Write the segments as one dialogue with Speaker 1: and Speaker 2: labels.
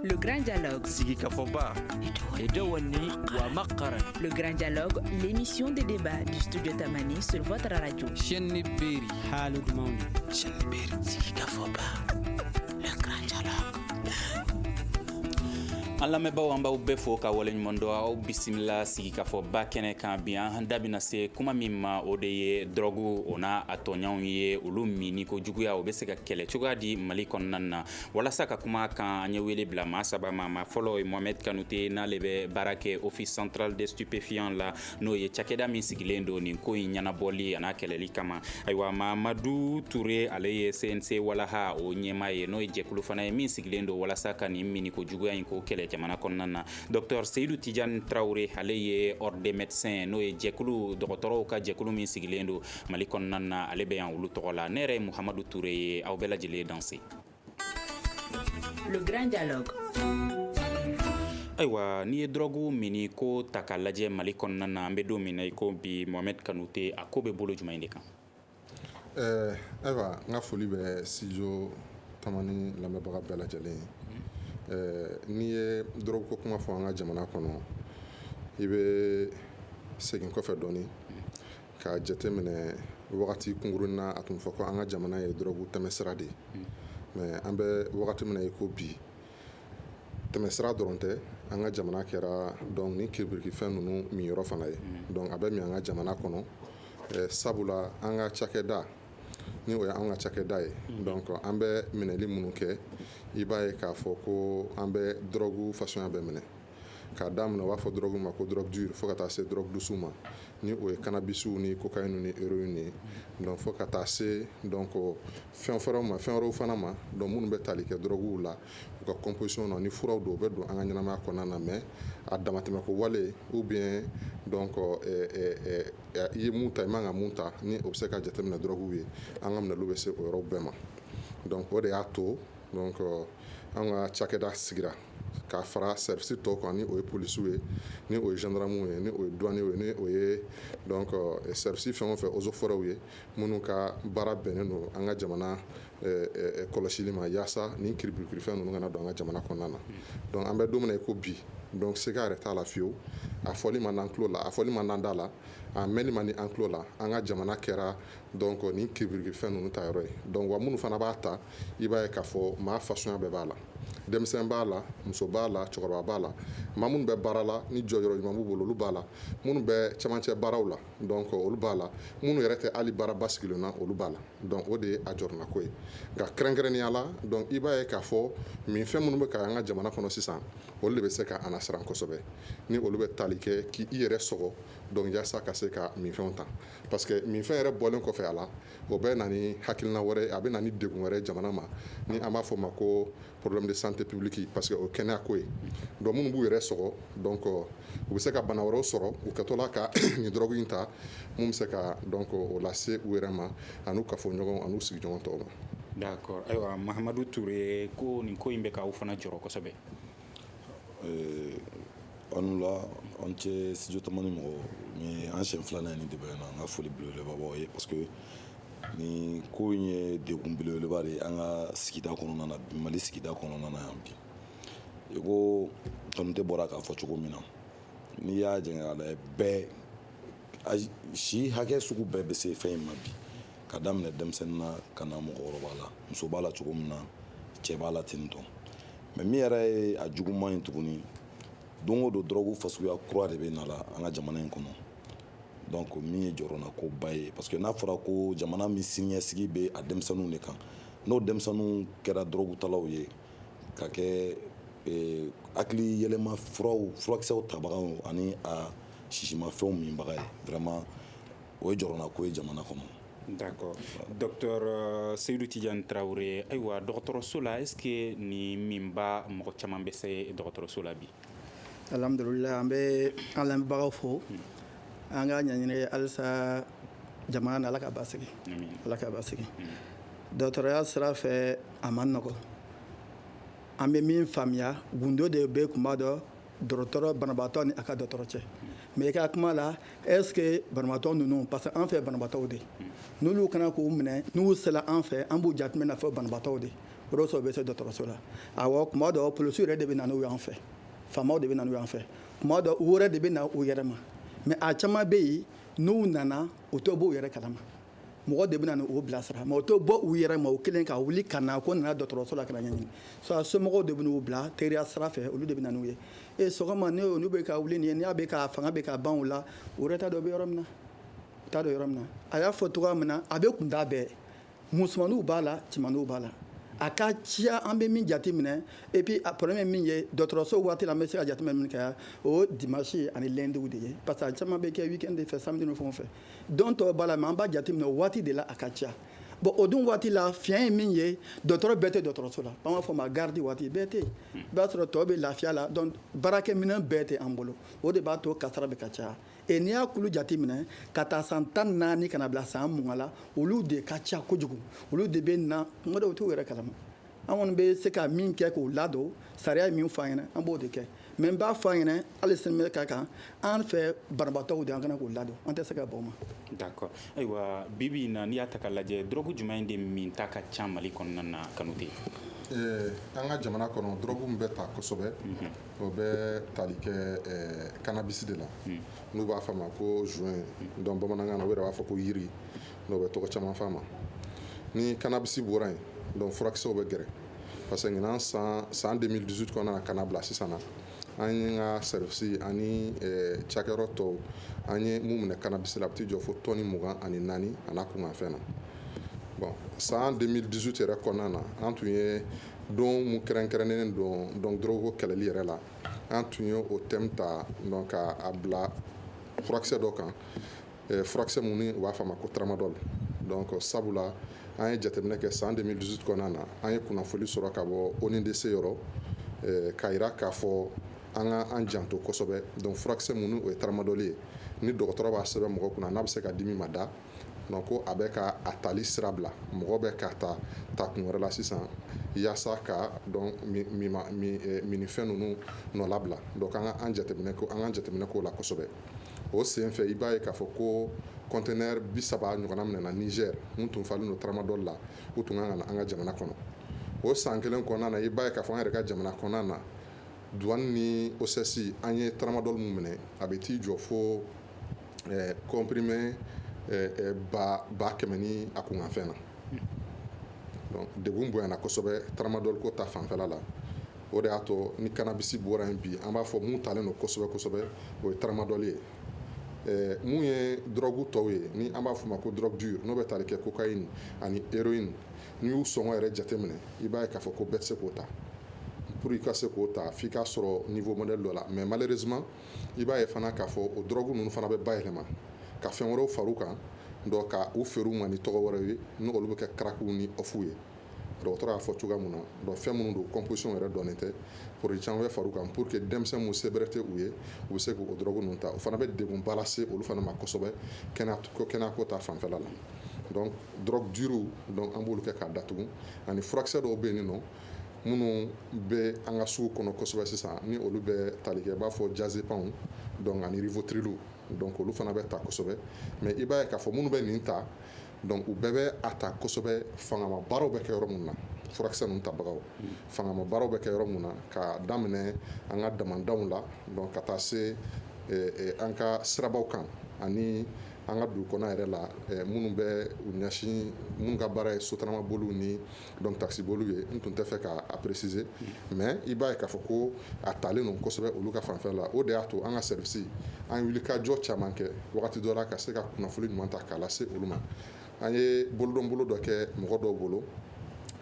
Speaker 1: Le Grand Dialogue. Sigi
Speaker 2: Kafoba. Et Dewani Wamakara. Le Grand
Speaker 1: Dialogue, l'émission des débats du studio Tamani sur votre radio. Chenni Beri.
Speaker 3: Halou Dmaouni.
Speaker 4: Chenni Beri. Sigi
Speaker 2: Kafoba.
Speaker 5: Le Grand
Speaker 6: Dialogue. an lamɛnbaaw an b'aw bɛɛ fo ka waleɲuman dɔn aw bisimila sigikafɔ ba kɛnɛ kan bi an da bɛna se kuma min ma o de ye dɔrɔgu o n'a tɔɲɔgɔnw ye olu minni ko juguya o bɛ se ka kɛlɛ cogoya di Mali kɔnɔna na walasa ka kuma a kan an ye wele bila maa saba ma maa fɔlɔ ye Mohamed Kanute n'ale bɛ baara kɛ Office central des stupéfiants la n'o ye cakɛda min sigilen don nin ko in ɲɛnabɔli a n'a kɛlɛli kama ayiwa Mamadu Ture ale ye CNC Walaha o ɲɛmaa ye n'o ye jɛkulu fana ye min sigilen don walasa ka nin minni ko juguya in ko kɛlɛ jamana kɔnɔna na docteur Seyidu Tijani Tarawele ale ye ordre des médecins n'o ye jɛkulu dɔgɔtɔrɔw ka jɛkulu min sigilen don mali kɔnɔna na ale bɛ yan olu tɔgɔ la ne yɛrɛ ye muhamadu ture ye aw bɛɛ lajɛlen
Speaker 1: danse ayiwa
Speaker 6: n'i ye dɔrɔgu minni ko ta ka lajɛ mali kɔnɔna na an bɛ don min na i ko bi Mohamed Kanute a ko bɛ bolo jumɛn in de kan eh,
Speaker 7: ayiwa n ka foli bɛ studio Tamani lamɛnbaga bɛɛ lajɛlen ye eh, n'i ye dɔrɔgu ko kuma fɔ an ka jamana kɔnɔ i bɛ segin kɔfɛ dɔɔnin Ka jateminɛ wagati kunkurunnin na a tun fɔ ko an ka jamana ye dɔrɔgu tɛmɛsira de ye mais an bɛ wagati min na i ko bi tɛmɛsira dɔrɔn tɛ an ka jamana kɛra donc nin kiribikifɛn ninnu minyɔrɔ fana ye a bɛ min an ka jamana kɔnɔ sabula an ka cakɛda ni o ye an ka cakɛda ye donc an bɛ minɛli minnu kɛ i b'a ye k'a fɔ ko an bɛ dɔrɔgu fasiya bɛɛ minɛ k'a daminɛ u b'a fɔ dɔrɔgu ma ko drogue dure fo ka taa se drogue douce ma ni o ye kanabisiw ni cocaïne ni héroïne ye donc fo ka taa se donc fɛn fɔlɔ ma fɛn wɛrɛw fana ma donc minnu bɛ tali kɛ dɔrɔguw la u ka composition na ni furaw don u bɛ don an ka ɲɛnamaya kɔnɔna na mais a damatɛmɛ ko wale ou bien donc i ye min ta i man kan ka min ta ni o bɛ se ka jate minɛ dɔrɔguw ye an ka minɛliw bɛ se o yɔrɔ bɛɛ ma donc o de y'a to donc an ka cakɛda sigira k'a fara service tɔw kan ni o ye polisiw ye ni o ye gendarmew ye ni o ye douane ye ni o ye service fɛn o fɛn eaux et forêts ye minnu ka baara bɛnnen don an ka jamana kɔlɔsili ma yaasa nin kiribikifɛn ninnu kana don an ka jamana kɔnɔna na donc an bɛ don min na i ko bi donc siga yɛrɛ t'a la fiyewu a fɔli man d'an tulo la a fɔli man d'an da la a mɛnni man di an tulo la an ka jamana kɛra donc nin kibiriki fɛn ninnu ta yɔrɔ ye donc wa minnu fana b'a ta i b'a ye k'a fɔ maa fasuguya bɛɛ b'a la denmisɛn b'a la muso b'a la cɛkɔrɔba b'a la maa minnu bɛ baara la ni jɔyɔrɔ ɲuman b'u bolo olu b'a la minnu bɛ camancɛ baaraw la donc olu b'a la minnu yɛrɛ tɛ hali baara basigilen na olu b'a la donc o de ye a jɔrɔnako ye nka kɛrɛnkɛrɛnnenya la donc i b'a ye k'a fɔ minfɛn minnu bɛ ka an ka jamana kɔnɔ sisan olu de bɛ se ka an lasiran kosɛbɛ ni olu bɛ tali kɛ k'i yɛrɛ sɔgɔ donc jaasa ka se ka minfɛnw ta parce que minfɛn yɛrɛ bɔlen kɔfɛ a la o bɛ na ni hakilina wɛrɛ a bɛ na ni degun wɛrɛ jamana ma ni an b'a fɔ o ma ko problème de santé publique parce que o kɛnɛya ko ye donc minnu b'u yɛrɛ sɔgɔ donc u bɛ se ka bana wɛrɛw sɔrɔ u kɛtɔla ka nin drogue in ta mun bɛ se ka donc o lase u yɛrɛ ma an'u kafoɲɔgɔnw an'u sigiɲɔgɔn tɔw ma d'accord ayiwa
Speaker 6: Mahamadu Ture ko nin ko in bɛ k'aw fana jɔrɔ kosɛbɛ
Speaker 8: Ee aw ni wula aw ni ce studio Tamani mɔgɔw nin ye an siɲɛ filanan ye nin débat in na an ka foli belebeleba b'aw ye parce que nin ko in ye degun belebeleba de ye an ka sigida kɔnɔna na bi Mali sigida kɔnɔna na yan bi i ko Kanute bɔra k'a fɔ cogo min na n'i y'a jɛngɛ k'a lajɛ bɛɛ si hakɛ sugu bɛɛ bɛ se fɛn in ma bi ka daminɛ denmisɛnnin na ka na mɔgɔkɔrɔba la muso b'a la cogo min na cɛ b'a la ten tɔn mais min yɛrɛ ye a juguman ye tuguni don o don dɔrɔgu fasuguya kura de bɛ na la an ka jamana in kɔnɔ donc min ye jɔrɔnako ba ye parce que n'a fɔra ko jamana min siniɲɛsigi bɛ a denmisɛnninw de kan n'o denmisɛnninw kɛra dɔrɔgutalaw ye ka kɛ eh, hakili yɛlɛma furaw furakisɛw tabaga ani a sisimafɛnw minbaga ye vraiment o ye jɔrɔnako ye jamana kɔnɔ
Speaker 6: d'accord docteur Seyidu Tijan Tarawele ayiwa dɔgɔtɔrɔso la est-ce que nin minbaa mɔgɔ caman bɛ se dɔgɔtɔrɔso la bi
Speaker 4: alhamdulillah an bɛ an lamɛnbagaw fo an k'a ɲini halisa jamana na Ala k'a basigi Ala k'a basigi dɔgɔtɔrɔya sira fɛ a man nɔgɔ an bɛ min faamuya gundo de bɛ kunba dɔn dɔgɔtɔrɔ banabaatɔ ni a ka dɔgɔtɔrɔ cɛ mais i ka kuma la est-ce que banabaatɔ ninnu parce que an fɛ banabaatɔw de n'olu kana k'u minɛ n'u sela an fɛ an b'u jateminɛ fɔ banabaatɔw de o de sɔrɔ bɛ se dɔgɔtɔrɔso la awɔ kuma dɔ polisiw yɛrɛ de bɛ na n'u y'an fɛ faamaw de bɛ na n'u y'an fɛ kuma dɔ u yɛrɛ de bɛ na u yɛrɛ ma mais a caman bɛ yen n'u nana u tɛ b'u yɛrɛ kalama mɔgɔ de bɛ na u bilasira mais u tɛ bɔ u yɛrɛ ma u kelen ka wuli ka na ko nana dɔgɔtɔrɔso la k'a ɲɛɲini so somɔgɔw de bɛna u bila teriya sira fɛ olu de bɛ na n'u ye e sɔgɔma n'olu bɛ ka wuli nin ye n'a bɛ ka fanga bɛ ka ban u la u yɛrɛ t'a dɔn u bɛ yɔrɔ min na u t'a dɔn yɔrɔ min na a y'a fɔ cogoya min na a bɛ kun t'a bɛɛ musomanninw b'a la cɛmanninw b'a la a ka ciya an bɛ min jate minɛ et puis a problème ye min ye dɔgɔtɔrɔso waati la an bɛ se ka jate minɛ min kɛ o dimanche ani lundi de ye parce que a caman bɛ kɛ week-end de fɛ samedi ni fɛnw fɛ don tɔw b'a la mɛ an b'a jateminɛ o waati de la a ka ca bɔn o dun waati la fiɲɛ ye min ye dɔtɔrɔ bɛɛ tɛ dɔtɔrɔso la an b'a fɔ o ma garidi waati bɛɛ tɛ i b'a sɔrɔ tɔw bɛ lafiya la donc baarakɛminɛn bɛɛ tɛ an bolo o de b'a to kasara bɛ ka caya e n'i y'a kulu jate minɛ k'a ta san tan ni naani ka n'a bila san mugan la olu de ka ca kojugu olu de bɛ na kuma dɔw t'u yɛrɛ kalama an kɔni bɛ se ka min kɛ k'u ladon sariya ye min fɔ an ɲɛna an b'o de kɛ mɛ n b'a fɔ an ɲɛna hali sini bɛɛ ka kan an fɛ banabaatɔw de an kana k'u ladon an tɛ se ka bɔ o ma d'accord ayiwa
Speaker 6: bi bi in na n'i y'a ta k'a lajɛ dɔrɔgu jumɛn in de min ta ka ca mali kɔnɔna na Kanute
Speaker 7: eh, an ka jamana kɔnɔ dɔrɔgu min bɛ ta kosɛbɛ mhm. o bɛ tali kɛ eh, kanabisi de la mhm. n'u b'a fɔ a ma ko joint donc bamanankan na u yɛrɛ b'a fɔ ko yiri n'u bɛ tɔgɔ caman fɔ a ma ni kanabisi bɔra yen donc furakisɛw bɛ gɛrɛ parce que ɲinan san 2018 kɔnɔna na ka n'a bila sisan na an ye ka service ani cakɛyɔrɔ tɔw an ye mun minɛ kanabisi la a bɛ t'i jɔ fo tɔni mugan ani naani a n'a kunkanfɛn na bɔn san 2018 yɛrɛ kɔnɔna na an tun ye don mun kɛrɛnkɛrɛnnen don donc dɔrɔgu kɛlɛli yɛrɛ la an tun ye o thème ta donc k'a bila furakisɛ dɔ kan eh, furakisɛ min n'u b'a fɔ a ma ko tramadol donc sabula an ye jateminɛ kɛ san 2018 kɔnɔna na an ye kunnafoli sɔrɔ ka bɔ ONUDC yɔrɔ eh, k'a jira k'a fɔ an ka an janto kosɛbɛ donc furakisɛ min n'o ye tramadol ye ni dɔgɔtɔrɔ b'a sɛbɛn mɔgɔ kunna n'a bɛ se ka dimi mada donc ko a bɛ ka a tali sira bila mɔgɔ bɛ k'a ta kun wɛrɛ la sisan yaasa ka donc minnifɛn ninnu nɔnabila donc an ka an jateminɛ ko an ka jateminɛ k'o la kosɛbɛ o sen fɛ i b'a ye k'a fɔ ko conteneur bi saba ɲɔgɔnna minɛna Niger mun tun falen don tramadol la u tun kan ka na an ka jamana kɔnɔ o san kelen kɔnɔna na i b'a ye k'a fɔ an yɛrɛ ka jamana kɔnɔna na douane ni OCS an ye tramadol mun minɛ a bɛ t'i jɔ fo comprimé ba kɛmɛ ni a kunkanfɛn na degun bonyana kosɛbɛ tramadol ko ta fanfɛ la o de y'a to ni kanabisi bɔra yen bi an b'a fɔ mun talen don kosɛbɛ kosɛbɛ o ye tramadol ye mun ye drogue tɔw ye ni an b'a f'a ma ko drogue dure n'o bɛ tali kɛ cocaïne ani héroïne n'i y'u sɔngɔ yɛrɛ jateminɛ i b'a ye k'a fɔ ko bɛɛ tɛ se k'o ta pour i ka se k'o ta f'i ka sɔrɔ niveau modèle dɔ la mɛ malheureusement i b'a ye fana k'a fɔ o drogue ninnu fana bɛ bayɛlɛma ka fɛn wɛrɛw far'u kan k'u feere u ma ni tɔgɔ wɛrɛw ye n'olu bɛ kɛ crackw ni off ye dɔgɔtɔrɔ y'a fɔ cogoya min na donc fɛn minnu don composition yɛrɛ dɔnnen tɛ produit caman bɛ far'u kan pour que denmisɛnnin minnu se bɛrɛ tɛ u ye u bɛ se k'o dɔrɔgu ninnu ta o fana bɛ degunba lase olu fana ma kosɛbɛ kɛnɛyako ta fanfɛla la drogue dure an b'olu kɛ k'a datugu ani furakisɛ dɔw bɛ yen nɔ minnu bɛ an ka sugu kɔnɔ kosɛbɛ sisan ni olu bɛ tali kɛ i b'a fɔ diazépam donc ani rivotril donc olu fana bɛ ta kosɛbɛ mais i b'a ye k'a fɔ minnu bɛ nin ta donc u bɛɛ bɛ a ta kosɛbɛ fangama baaraw bɛ kɛ yɔrɔ min na furakisɛ ninnu tabagaw fangama baaraw bɛ kɛ yɔrɔ min na ka daminɛ an ka damandaw la donc ka taa se an ka sirabaw kan ani an ka dugu kɔnɔ yɛrɛ la minnu bɛ u ɲɛsin minnu ka baara ye sotarama boli ni donc takisi boli ye n tun tɛ fɛ k'a préciser mais i b'a ye k'a fɔ ko a talen don kosɛbɛ olu ka fanfɛ la o de y'a to an ka service an wulikajɔ caman kɛ wagati dɔ la ka se ka kunnafoni ɲuman ta k'a lase se olu ma an ye bolodonbolo dɔ kɛ mɔgɔ dɔw bolo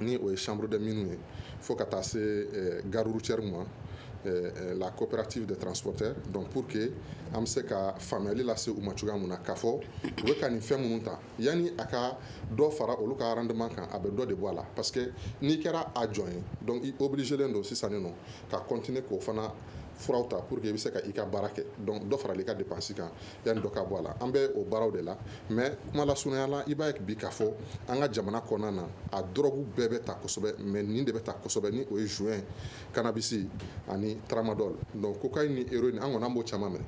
Speaker 7: ni o ye chambre des mines ye fo ka taa se eh, gare routière ma eh, eh, la coopérative des transporteurs donc pour que an bɛ se ka faamuyali lase u ma cogoya min na k'a fɔ u bɛ ka nin fɛn minnu ta yanni a ka dɔ fara olu ka rendement kan a bɛ dɔ de bɔ a la parce que n'i kɛra a jɔn ye donc i obligélen don sisan nin nɔ ka continuer k'o fana furaw ta pour que i bɛ se ka i ka baara kɛ donc dɔ faral'i ka dépense kan yanni dɔ ka bɔ a la an bɛ o baaraw de la mais kuma lasurunya la i b'a ye bi k'a fɔ an ka jamana kɔnɔna na a dɔrɔgu bɛɛ bɛ ta kosɛbɛ mais nin de bɛ ta kosɛbɛ ni o ye joint cannabis ani tramadol donc cocaïne ni héroïne an kɔni an b'o caman minɛ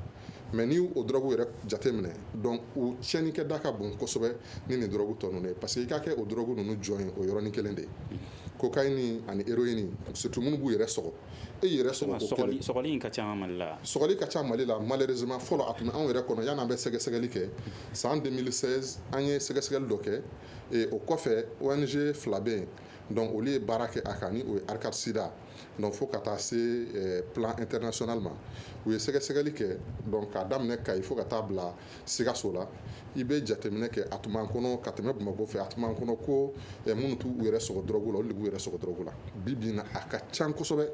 Speaker 7: mais ni o dɔrɔgu yɛrɛ jate minɛ donc o tiɲɛnikɛda ka bon kosɛbɛ ni nin dɔrɔgu tɔ ninnu ye parce que i ka kɛ o dɔrɔgu ninnu jɔn ye o yɔrɔnin kelen de ye cocaïne ani héroïne surtout minnu b'u yɛrɛ sɔgɔ e yɛrɛ sɔgɔli ka ca mali
Speaker 6: la sɔgɔli ka ca mali
Speaker 7: la malheureusement fɔlɔ a tun b'anw yɛrɛ kɔnɔ yan'an bɛ sɛgɛsɛgɛli kɛ san deux mille seize an ye sɛgɛsɛgɛli dɔ kɛ o kɔfɛ ONG fila bɛ yen donc olu ye baara kɛ a kan ni o ye ARCAD SIDA donc fo ka taa se eh, plan international ma u ye sɛgɛsɛgɛli kɛ donc k'a daminɛ kayi fo ka taa bila sikaso la i bɛ jateminɛ kɛ a tun b'an kɔnɔ ka tɛmɛ bamakɔ fɛ a tun b'an kɔnɔ ko eh, minnu t'u yɛrɛ sɔgɔ dɔrɔgu la olu de b'u yɛrɛ sɔgɔ dɔrɔgu la bi bi na a ka can kosɛbɛ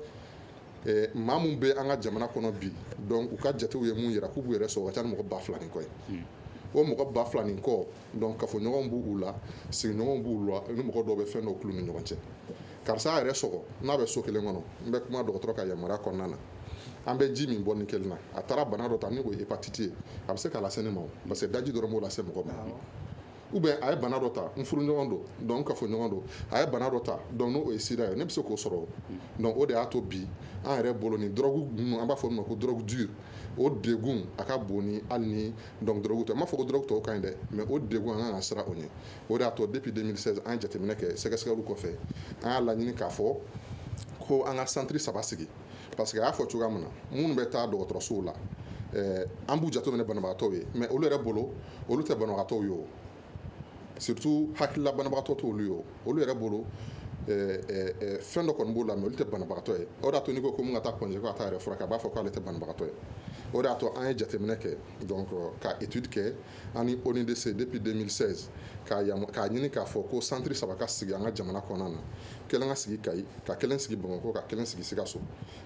Speaker 7: eh, maa min bɛ an ka jamana kɔnɔ bi donc u ka jatew ye mun yira k'u b'u yɛrɛ sɔgɔ ka ca ni mɔgɔ ba fila ni kɔ ye hmm. o mɔgɔ ba fila ni kɔ donc kafoɲɔgɔn b'u la sigiɲɔgɔn b'u la ni mɔgɔ dɔw bɛ fɛn dɔ ni ɲɔgɔn cɛ karisa yɛrɛ sɔgɔ n'a bɛ so kelen kɔnɔ n bɛ kuma dɔgɔtɔrɔ ka yamaruya kɔnɔna na an bɛ ji min bɔli kelen na a taara bana dɔ ta ni o ye hépatite ye a bɛ se k'a lase ne ma parce que daji dɔrɔn b'o lase mɔgɔ ma ou bien a ye bana dɔ ta n furuɲɔgɔn don donc n kafoɲɔgɔn don a ye bana dɔ ta donc n'o ye sida ye ne bɛ se k'o sɔrɔ donc o de y'a to bi an yɛrɛ bolo ni dɔrɔgu ninnu an b'a fɔ olu ma ko drogue dure o degun a ka bon ni hali ni donc dɔrɔgu tɛ n m'a fɔ ko dɔrɔgu tɔw ka ɲi dɛ mais o degun an kan ka siran o ɲɛ o de y'a to depuis 2016 an ye jateminɛ kɛ sɛgɛsɛgɛliw kɔfɛ an y'a laɲini k'a fɔ ko an ka centre saba sigi parce que a y'a fɔ cogoya min na minnu bɛ taa dɔgɔtɔrɔsow la an b'u jateminɛ banabagatɔw ye mais olu yɛrɛ bolo olu tɛ banabagatɔw ye o Surtout hakilila banabagatɔ t'olu ye o olu yɛrɛ bolo ɛɛ ɛɛ fɛn dɔ kɔni b'u la mais olu tɛ banabagatɔ ye o de y'a to n'i ko ko min ka taa Point G ko ka taa yɛrɛ furakɛ a b'a fɔ k'ale tɛ banabagatɔ ye o de y'a to an ye jateminɛ kɛ donc ka étude kɛ an ni ONUDC depuis 2016 k'a yama k'a ɲini k'a fɔ ko centre 3 ka sigi an ka jamana kɔnɔna na kelen ka sigi Kayi ka kelen sigi Bamakɔ ka kelen sigi Sikasso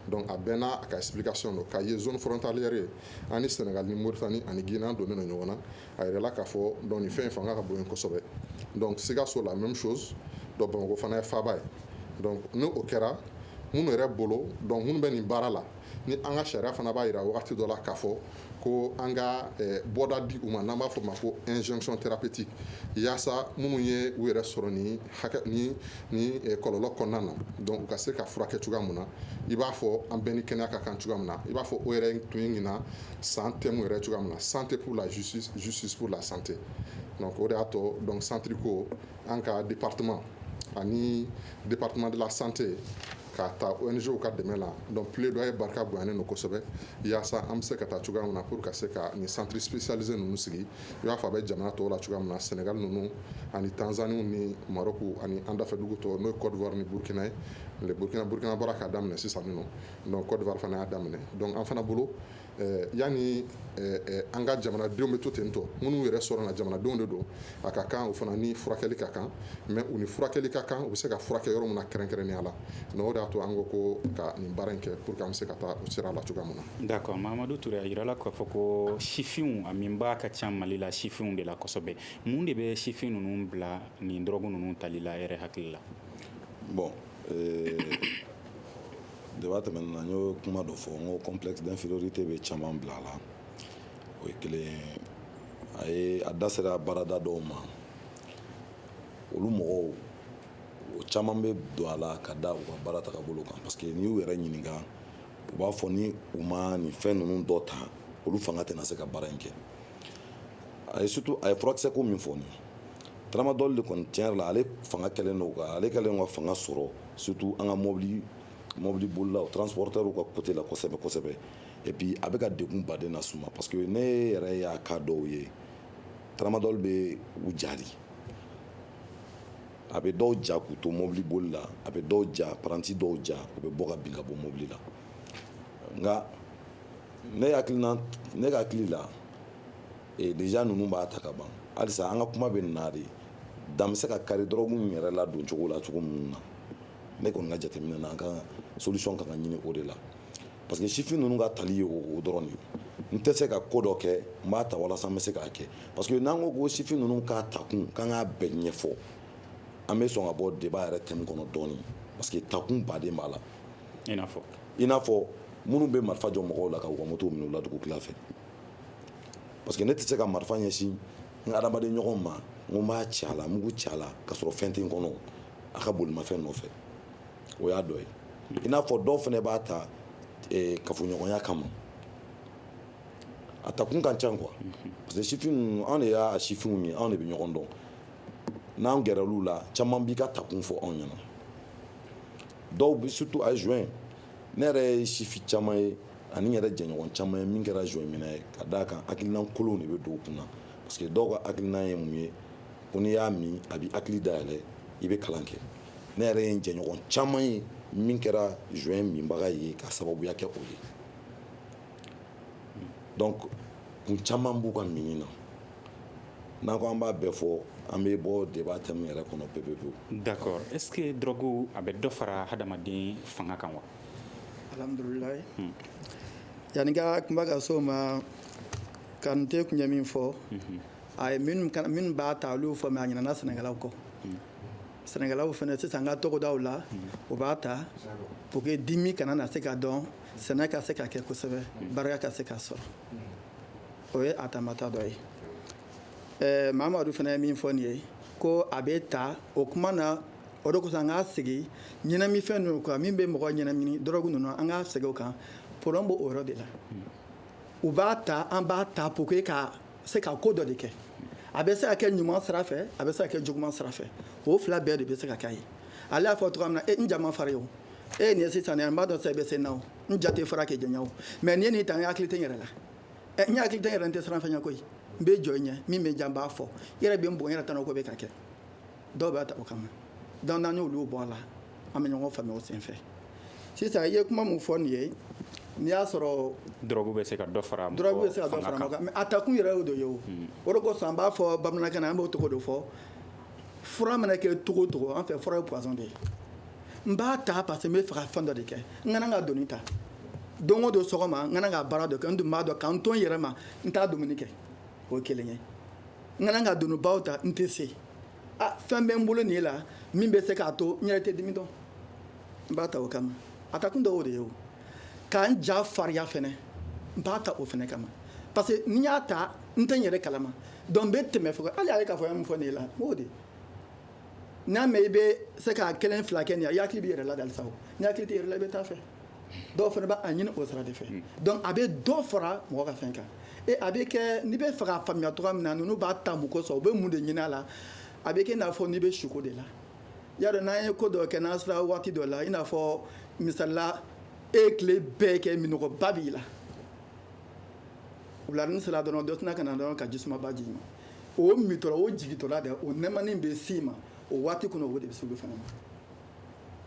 Speaker 7: donc a bɛɛ n'a ka explication don Kayi ye zone frontalière ye an ni Senegal ni Mauritanie ani Guinée an donnen don ɲɔgɔn na a yirala k'a fɔ donc nin fɛn in fanga ka bon yen kosɛbɛ donc Sikaso la même chose donc Bamakɔ fana ye faaba ye n'o kɛra minnu yɛrɛ bolo donc minnu bɛ nin baara la ni an ka sariya fana b'a jira waati dɔ la k'a fɔ ko an ka bɔda di u ma n'an b'a fɔ o ma ko injonction thérapeutique walasasa minnu ye u yɛrɛ sɔrɔ nin kɔlɔlɔ kɔnɔna na donc u ka se ka furakɛ cogoya min na i b'a fɔ an bɛɛ ni kɛnɛya ka kan cogoya min na i b'a fɔ o yɛrɛ tun ye ɲinan san thème yɛrɛ cogoya min na santé pour la justice justice pour la santé o de y'a to donc centre ko an ka département ani département de la santé ka taa ONG ka dɛmɛ la donc plaidoyer barika bonyanen don kosɛbɛ walasasa an bɛ se ka taa cogoya min na pour ka se ka nin centre spécialisé ninnu sigi i b'a fɔ a bɛ jamana tɔw la cogoya min na Sénégal ninnu ani Tanzanie ni Maroc ani an dafɛdugu tɔw n'o ye Côte d'Ivoire ni Burkina ye Burkina bɔra k'a daminɛ sisan nɔ Côte d'Ivoire fana y'a daminɛ donc an fana bolo eh, yani eh, eh, an ka jamanadenw bɛ to ten tɔ minnu yɛrɛ sɔrɔ na jamanadenw de don a ka kan u fana ni furakɛli ka kan mais u ni furakɛli ka kan u bɛ se ka furakɛ yɔrɔ min na kɛrɛnkɛrɛnnenya la donc o de y'a to an ko ko ka nin baara in kɛ pour que an bɛ se ka taa o sira la cogoya min na. d'accord Mahamadu Ture
Speaker 6: a yirala k'a fɔ ko sifinw a minbaa ka ca Mali la sifinw de la kosɛbɛ mun de bɛ sifin ninnu bila nin dɔrɔgu ninnu tali la yɛrɛ hakili la. bon
Speaker 8: Ee débat tɛmɛnen na n y'o kuma dɔ fɔ n ko complexe d'infériorité bɛ caman bila a la o ye kelen ye a da sera baarada dɔw ma olu mɔgɔw o caman bɛ don a la ka da u ka baara taabolo kan parce que n'i y'u yɛrɛ ɲininka u b'a fɔ ni u ma nin fɛn ninnu dɔ ta olu fanga tɛna se ka baara in kɛ a ye surtout a ye furakisɛko min fɔ Tramadol de kɔni tiɲɛ yɛrɛ la ale fanga kɛlen don kan ale kɛlen ka fanga sɔrɔ surtout an ka mɔbili mɔbili bolila o transporteurw ka côté la kosɛbɛ kosɛbɛ et puis a bɛ ka degun baden lase u ma parce que ne yɛrɛ y'a cas dɔw ye tramadol bɛ u ja a bɛ dɔw ja k'u to mɔbili boli la a bɛ dɔw ja paranti dɔw ja u bɛ bɔ ka bin ka bɔ mɔbili la nka ne hakili ne hakili la ee déjà ninnu b'a ta ka ban halisa an ka kuma bɛ nin na de dan bɛ se ka kari dɔrɔgu yɛrɛ ladon cogo la cogo minnu na ne kɔni ka jateminɛ na an ka solution ka kan ka ɲini o de la parce que sifin ninnu ka tali ye o dɔrɔn de ye n tɛ se ka ko dɔ kɛ n b'a ta walasa n bɛ se k'a kɛ parce que n'an ko ko sifin ninnu k'a takun k'an k'a bɛɛ ɲɛfɔ an bɛ sɔn ka bɔ débat yɛrɛ thème kɔnɔ dɔɔnin parce que takun baden b'a la i n'a fɔ i n'a fɔ minnu bɛ marifa jɔ mɔgɔw la ka u ka moto minɛ u la dugu tila fɛ parce que ne tɛ se ka marifa ɲɛsin n ka adamaden ɲɔgɔn ma n ko n b'a ci a la mugu ci a la ka sɔrɔ fɛn tɛ n kɔnɔ a ka bolimafɛn nɔfɛ o y'a dɔ ye i n'a fɔ dɔw fana b'a ta e, kafoɲɔgɔnya kama a takun ka ca quoi parce que sifin anw de y'a sifinw ye anw de bɛ ɲɔgɔn dɔn n'an gɛrɛla u la caman b'u ka takun fɔ anw ɲɛna dɔw bɛ surtout a joint ne yɛrɛ ye sifin caman ye ani n yɛrɛ jɛɲɔgɔn caman ye min kɛra joint minna ye ka d'a kan hakilina kolonw de bɛ don u kun na parce que dɔw ka hakilina ye mun ye ko n'i y'a min a bɛ hakili da yɛlɛ i bɛ kalan kɛ ne yɛrɛ ye n jɛɲɔgɔn caman ye min kɛra joint minbaga ye ka sababuya kɛ o ye donc kun caman b'u ka minni na n'an ko an b'a bɛɛ fɔ an bɛ bɔ débat thème yɛrɛ kɔnɔ pepepewu d'accord est ce
Speaker 6: que drogue a bɛ dɔ fara hadamaden fanga kan wa
Speaker 4: yanni ka kuma ka s'o ma Kante tun ye min fɔ a ye minnu b'a ta olu fɔ mais a ɲinɛna sɛnɛkɛlaw kɔ sɛnɛkɛlaw fana sisan an ka togodaw la u b'a ta pour que dimi kana na se ka dɔn sɛnɛ ka se ka kɛ kosɛbɛ barika ka se ka sɔrɔ o ye a taamata dɔ ye ɛɛ Mamadu fana ye min fɔ nin ye ko a bɛ ta o kuma na o de kosɔn an ka segin ɲɛnamifɛn ninnu kan min bɛ mɔgɔ ɲɛnamini dɔrɔgu ninnu an ka segin o kan problème b'o yɔrɔ de la u b'a ta an b'a ta pour que ka se ka ko dɔ de kɛ a bɛ se ka kɛ ɲuman sira fɛ a bɛ se ka kɛ juguman sira fɛ o fila bɛɛ de bɛ se ka k'a ye ale y'a fɔ cogoya min na e n ja man fari o e ye nin ye sisan n b'a dɔn sa i bɛ se n na o n ja tɛ fara k'i janya o mais ni n ye nin ta n hakili tɛ n yɛrɛ la n hakili tɛ n yɛrɛ n tɛ siran fɛn ɲɛ koyi n bɛ jɔ i ɲɛ min bɛ jan n b'a fɔ i yɛrɛ bɛ n bon n yɛrɛ tana ko bɛ ka kɛ dɔw b'a ta o kama donc n'an y'olu bɔ a la an bɛ ɲɔgɔn faamuya o senfɛ sisan i ye kuma min fɔ nin ye n'i y'a sɔrɔ dɔrɔgu bɛ se ka dɔ
Speaker 6: fara dɔrɔgu bɛ se ka dɔ fara
Speaker 4: mɔgɔ kan mais a takun yɛrɛ y'o de ye o hmm. o de kosɔn an b'a fɔ bamanankan na an b'o tɔgɔ de fɔ fura mana kɛ cogo o cogo an fɛ fura ye poison de ye n b'a ta parce que n bɛ fɛ ka fɛn dɔ de kɛ n kana ka doni ta don o don sɔgɔma n kana ka baara dɔ kɛ n dun b'a dɔn ka n to n yɛrɛ ma n t'a dumuni kɛ o ye kelen ye n kana ka donibaw ta n tɛ se ah, fɛn bɛ n bolo nin la min bɛ se k'a to n yɛrɛ tɛ dimi dɔn n b'a ta o kama a ta kun dɔw de ye o k'an ja fariya fɛnɛ n b'a ta o fɛnɛ kama parce que ni n y'a ta n tɛ n yɛrɛ kalama donc n bɛ tɛmɛ fo hali a ye k'a fɔ ya min fɔ nin ye la m'o de n'a mɛ i bɛ se k'a kelen fila kɛ nin ye i hakili b'i yɛrɛ la halisa o n'i hakili t'i yɛrɛ la i bɛ taa fɛ dɔw fana b'a ɲini o sira de fɛ hmm. donc a bɛ dɔ fara mɔgɔ ka fɛn kan e a bɛ kɛ n'i bɛ fɛ k'a faamuya cogoya min na ninnu b'a ta mun kosɔn u bɛ mun de ɲini a la a bɛ kɛ i n'a fɔ n'i bɛ sunko de la i y'a dɔn n'an ye ko dɔ kɛ n'an sera waati dɔ la i n'a fɔ misali la e ye tile bɛɛ kɛ minnɔgɔba b'i la wuladanin sera dɔrɔn dɔ tɛna ka na dɔrɔn ka jisumaba di i ma o mintɔla o jigintɔla dɛ o nɛɛmani bɛ s'i ma o waati kɔnɔ o de bɛ se olu fana ma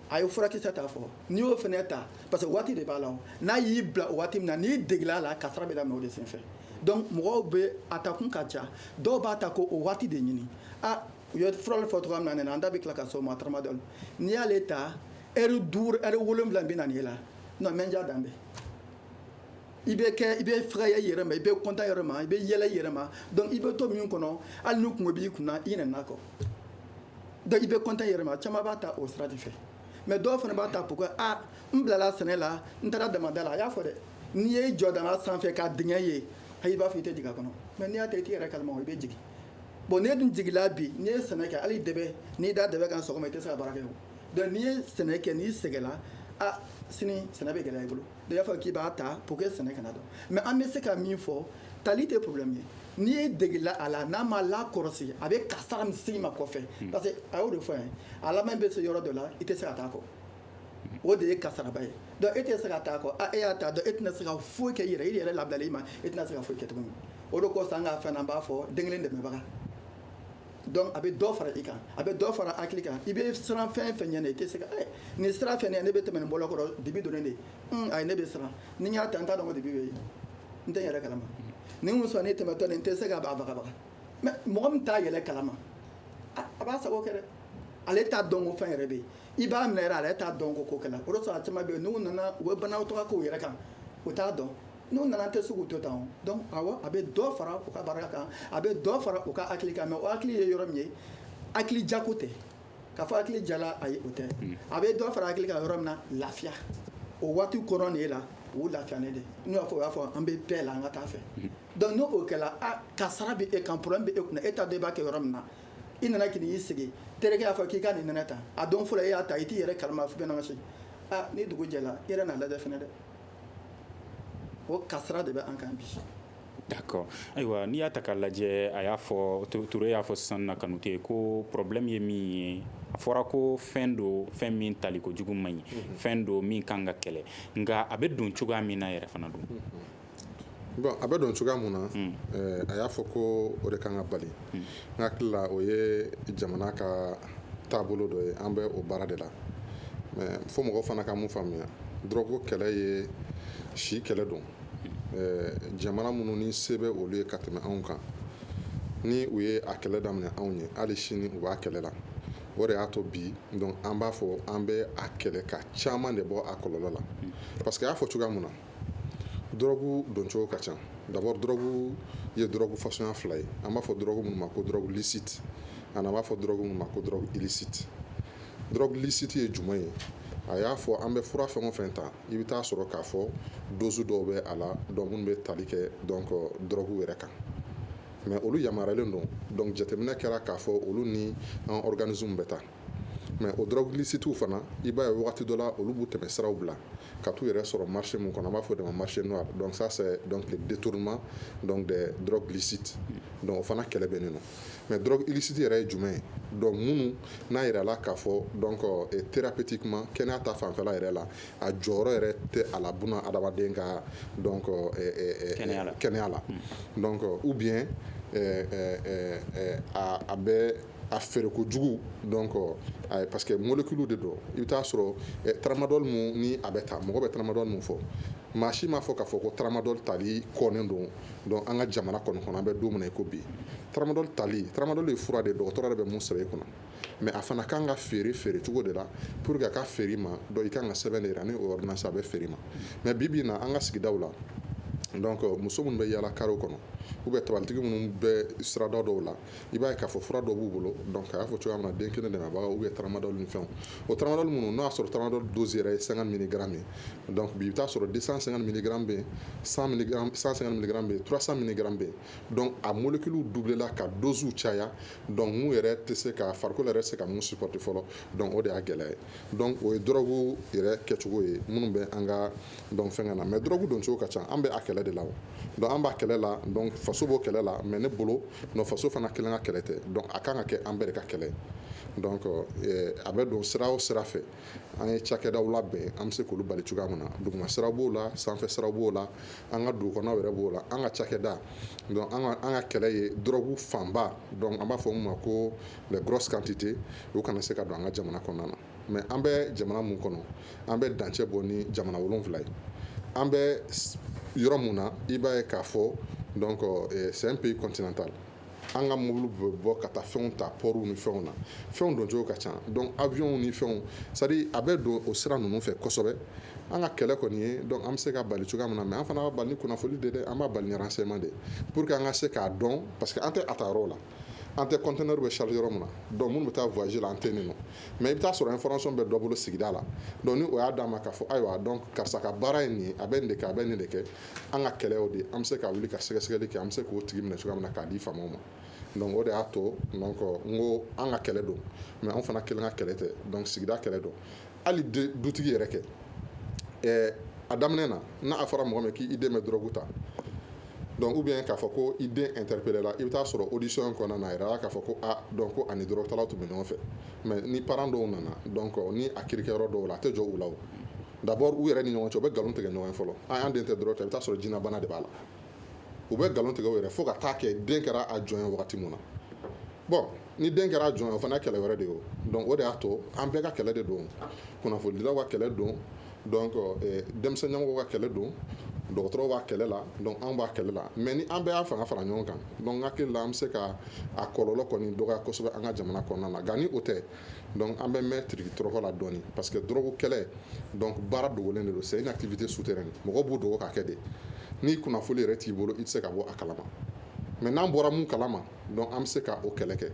Speaker 4: a ye furakisɛ ta fɔ n'i y'o fana ta parce que waati de b'a la n'a y'i bila o waati min na n'i degela a la kasara bɛ daminɛ o de senfɛ donc mɔgɔw bɛ a takun ka ca dɔw b'a ta k'o waati de ɲini a u ye furali fɔ cogoya min na an da bɛ tila ka s'o ma taramadɔli n'i y'ale ta ɛri duuru ɛri wolonwula bɛ na n'e la non mɛndiya dan bɛ i bɛ kɛ i bɛ fɛgɛya i yɛrɛ ma i bɛ kontan i yɛrɛ ma i bɛ yɛlɛ i yɛrɛ ma donc i bɛ to min kɔnɔ hali ni kunko b'i kunna i ɲinɛna a kɔ donc i bɛ kontan i yɛrɛ ma caman b'a ta o sira de fɛ mais dɔw fana b'a ta pourquoi ah n bilala sɛnɛ la n taara damanda la a y'a fɔ dɛ n'i y'i jɔ daman sanfɛ ka dingɛ ye ayi i b'a fɔ i tɛ jigin a kɔnɔ mais n'i y'a ta i t'i yɛrɛ kalama i bɛ jigin bon n'e dun jigila bi n'i ye sɛnɛ kɛ hali dɛbɛ n'i da dɛbɛ kan sɔgɔma i tɛ se ka baara kɛ o donc n'i ye sɛnɛ kɛ n'i sɛgɛla ah sini sɛnɛ bɛ gɛlɛya i bolo i y'a fɔ k'i b'a ta pour que sɛnɛ kana dɔn mais an bɛ se ka min fɔ tali tɛ problème ye n'i degela a la n'a ma lakɔrɔsi a bɛ kasara min s'i ma kɔfɛ hmm. parce que a y'o de fɔ yan a laban bɛ se yɔrɔ dɔ la i tɛ se ka taa a kɔ o de ye kasaraba ye donc e tɛ se ka taa a kɔ a e y'a ta donc e tɛna se ka foyi kɛ i yɛrɛ i yɛrɛ labilali ma e tɛna se ka foyi kɛ tuguni o de kosɔn an ka fɛn na an b'a fɔ den kelen dɛmɛbaga donc a bɛ dɔ fara i kan a bɛ dɔ fara hakili kan i bɛ siran fɛn o fɛn ɲɛ i tɛ se ka eh, nin sira fɛ ne bɛ tɛmɛ nin bɔlɔ kɔrɔ dibi donnen de hmm, ayi ne bɛ siran ni n y'a ta n t'a dɔn ko dibi bɛ yen n tɛ n yɛrɛ kalama ni n sɔn ne tɛmɛtɔ nin n tɛ se ka bagabaga mais mɔgɔ min t'a yɛrɛ kalama a b'a sago kɛ dɛ ale t'a dɔn ko fɛn yɛrɛ bɛ yen i b'a minɛ yɛrɛ ale t'a dɔn ko ko kɛla o de sɔrɔ a caman bɛ yen n'u nana u bɛ banakɔtaga k'u yɛrɛ kan u t'a dɔn n'u nana tɛ se k'u to tan a bɛ dɔ fara u ka barika kan a bɛ dɔ fara u ka hakili kan mais o hakili ye yɔrɔ min ye hakili jako tɛ k'a fɔ hakili jala ayi o tɛ hmm. a bɛ dɔ fara hakili kan yɔrɔ min na lafiya o waati kɔrɔ de la o lafiya ne de n'u y'a fɔ o y'a fɔ an bɛ bɛɛ la an ka taa fɛ hmm. donc n'o kɛra kasara bɛ e kan problème bɛ e kunna e t'a dɔn i b'a kɛ yɔrɔ min na i nana k'i y'i sigi terikɛ y'a fɔ k'i ka nin nɛnɛ ta a don fɔlɔ e y'a ta i t'i yɛrɛ kalama fo bɛnama se aa ni dugu jɛla i yɛrɛ n'a lajɛ fɛnɛ dɛ o kasara de bɛ an kan
Speaker 6: bi d'accord ayiwa n'i y'a ta k'a lajɛ a y'a fɔ Ture y'a fɔ sisan na Kanute ko problème ye min ye a fɔra ko fɛn don fɛn min tali kojugu man ɲi mhm. fɛn don min kan ka kɛlɛ nka a bɛ don cogoya min na yɛrɛ fana don mhm.
Speaker 7: bon a bɛ don cogoya mun na mhm. eh, a y'a fɔ ko o de kan ka bali hakili la o ye jamana ka taabolo dɔ ye an bɛ o baara de la mais fo mɔgɔ fana ka mun faamuya dɔrɔgu kɛlɛ ye si kɛlɛ don jamana minnu ni se bɛ olu ye ka tɛmɛ anw kan ni u ye a kɛlɛ daminɛ anw ye hali sini u b'a kɛlɛ la o de y'a to bi donc an b'a fɔ an bɛ a kɛlɛ ka caman de bɔ a kɔlɔlɔ la parce que a y'a fɔ cogoya mun na dɔrɔgu doncogo ka ca d'abord dɔrɔgu ye dɔrɔgu fasuguya fila ye an b'a fɔ dɔrɔgu minnu ma ko dɔrɔgu licite ani an b'a fɔ dɔrɔgu minnu ma ko dɔrɔgu illicite dɔrɔgu licite ye jumɛn ye a y'a fɔ an bɛ fura fɛn o fɛn ta i bɛ t'a sɔrɔ k'a fɔ dozu dɔw bɛ a la donc minnu bɛ tali kɛ donc dɔrɔgu yɛrɛ kan mais olu yamaruyalen don donc jateminɛ kɛra k'a fɔ olu ni an organisme bɛ taa mais o dɔrɔgu licitew fana i b'a ye waati dɔ la olu b'u tɛmɛsiraw bila ka t'u yɛrɛ sɔrɔ marché min kɔnɔ an b'a fɔ o de ma marché noir donc ça c'est donc le détournement donc des drogues licites donc o fana kɛlɛ bɛ nin na mais dɔrɔgu illicite yɛrɛ ye jumɛn ye donc minnu n'a jirala k'a fɔ donc thérapeutiquement kɛnɛya ta fanfɛla yɛrɛ la a jɔyɔrɔ yɛrɛ tɛ a la bon adamaden ka donc kɛnɛya la ou bien a bɛ a feere kojugu donc parce que molécule de don i bɛ t'a sɔrɔ tramadol min ni a bɛ ta mɔgɔ bɛ tramadol min fɔ maa si m'a fɔ k'a fɔ ko tramadol tali kɔnnen don donc an ka jamana kɔnɔ kɔnɔ an bɛ don min na i ko bi tramadol tali tramadol ye fura de ye dɔgɔtɔrɔ de bɛ mun sɛbɛn e kunna mais a fana kan ka feere feere cogo de la pour que a ka feere i ma donc i ka kan ka sɛbɛn de jira ni o ordonnance a bɛ feere i ma mais bi bi in na an ka sigida la muso minnu bɛ yaala karew kɔnɔ ou bien tabalitigi minnu bɛ sirada dɔw la i b'a ye k'a fɔ fura dɔ b'u bolo dɔnku a y'a fɔ cogoya min na den kelen de b'a u ye tamadɔ ni fɛn o taara minnu n'a'a sɔrɔ tamadɔ don yɛrɛ ye san mini dɔnku i bɛ t'a sɔrɔ di san san mini dɔrɔn bɛ san san bɛ tura san mini dɔrɔn bɛ dɔnku a mɔnoli kelen dubla ka donso caya dɔnkun yɛrɛ tɛ se ka fari yɛrɛ se ka mun sipti fɔlɔ dɔn o de y'a gɛlɛya ye dɔnku o ye dɔrɔnku yɛrɛ kɛcogo ye minnu bɛ an ka donc fɛn na mais drogue don cogo ka ca an bɛ a kɛlɛ de la donc an b'a kɛlɛ la donc faso b'o kɛlɛ la mais ne bolo non faso fana kelen ka kɛlɛ tɛ donc a kan ka kɛ an bɛɛ ka kɛlɛ donc eh, a bɛ don sira o sira fɛ an ye cakɛdaw labɛn an bɛ se k'olu bali cogoya min na duguma sira b'o la sanfɛ sira b'o la an ka dugukɔnɔnaw yɛrɛ b'o la an ka cakɛda donc an ka kɛlɛ ye drogue fanba donc an b'a fɔ min ma ko les grosses quantités o kana se ka don an ka jamana kɔnɔna na mais an bɛ jamana min kɔnɔ an bɛ dancɛ bɔ ni jamana wolonwula ye an bɛ yɔrɔ min na i b'a ye k'a fɔ donc c'est un pays continental an ka mobili bɛ bɔ ka taa fɛnw ta pɔriw ni fɛnw na fɛnw don cogo ka ca donc avion ni fɛnw c'est-à-dire a bɛ don o sira ninnu fɛ kosɛbɛ an ka kɛlɛ kɔni ye an bɛ se k'a bali cogoya min na mais an fana b'a bali ni kunnafoni de an b'a bali ni renseignement de pour que an ka se k'a dɔn parce que an tɛ a ta yɔrɔ la an tɛ conteneur bɛ charger yɔrɔ min na donc minnu bɛ taa voyage la an tɛ nin nɔ mais i bɛ taa sɔrɔ information bɛ dɔ bolo sigida la donc ni o y'a d'an ma k'a fɔ ayiwa donc karisa ka baara ye nin ye a bɛ nin de kɛ a bɛ nin de kɛ an ka kɛlɛ y'o de ye an bɛ se ka wuli ka sɛgɛsɛgɛli kɛ an bɛ se k'o tigi minɛ cogoya min na k'a di faamaw ma donc o de y'a to donc n ko an ka kɛlɛ don mais anw fana kelen ka kɛlɛ tɛ donc sigida kɛlɛ don hali dutigi yɛrɛ kɛ a daminɛ na n'a fɔra mɔgɔ min k'i den bɛ drogue ta donc ou bien k'a fɔ ko i den interpellé la i bɛ taa sɔrɔ audition kɔnɔna na jira k'a fɔ ko donc ko ani drogue talaw tun bɛ ɲɔgɔn fɛ mais ni parents dɔw nana donc ni a kikɛ yɔrɔ dɔw la a tɛ jɔ u la d'abord u yɛrɛ ni ɲɔgɔn cɛ u bɛ nkalon tigɛ ɲɔgɔn ye fɔlɔ ayi an den tɛ drogue ta i bɛ taa sɔrɔ jinɛbana de b'a la u bɛ nkalon tigɛ u yɛrɛ fo ka taa kɛ den kɛra a jɔn ye wagati min na ni den kɛra a jɔn ye o fana ye kɛlɛ wɛrɛ de ye o donc o de y'a to an bɛɛ ka kɛlɛ de don kunnafonidilaw ka kɛlɛ don eh, denmisɛn ɲɛmɔgɔw ka kɛlɛ don dɔgɔtɔrɔw b'a kɛlɛ la donc an b'a kɛlɛ la mais ni an bɛɛ y'a fanga fara ɲɔgɔn kan donc n hakili la an bɛ se ka a kɔlɔlɔ kɔni dɔgɔya kosɛbɛ an ka jamana kɔnɔna la nka ni o tɛ donc an bɛ mɛn tiriki tɔrɔkɔ la dɔɔni parce que drogue kɛlɛ donc baara dogolen de don c'est une activité souterraine mɔgɔw b'u dogo k'a kɛ de ni kunnafoni yɛrɛ t'i bolo i tɛ se ka bɔ a kalama mais n'an bɔra min kalama dɔnku an bɛ se ka o kɛlɛ kɛ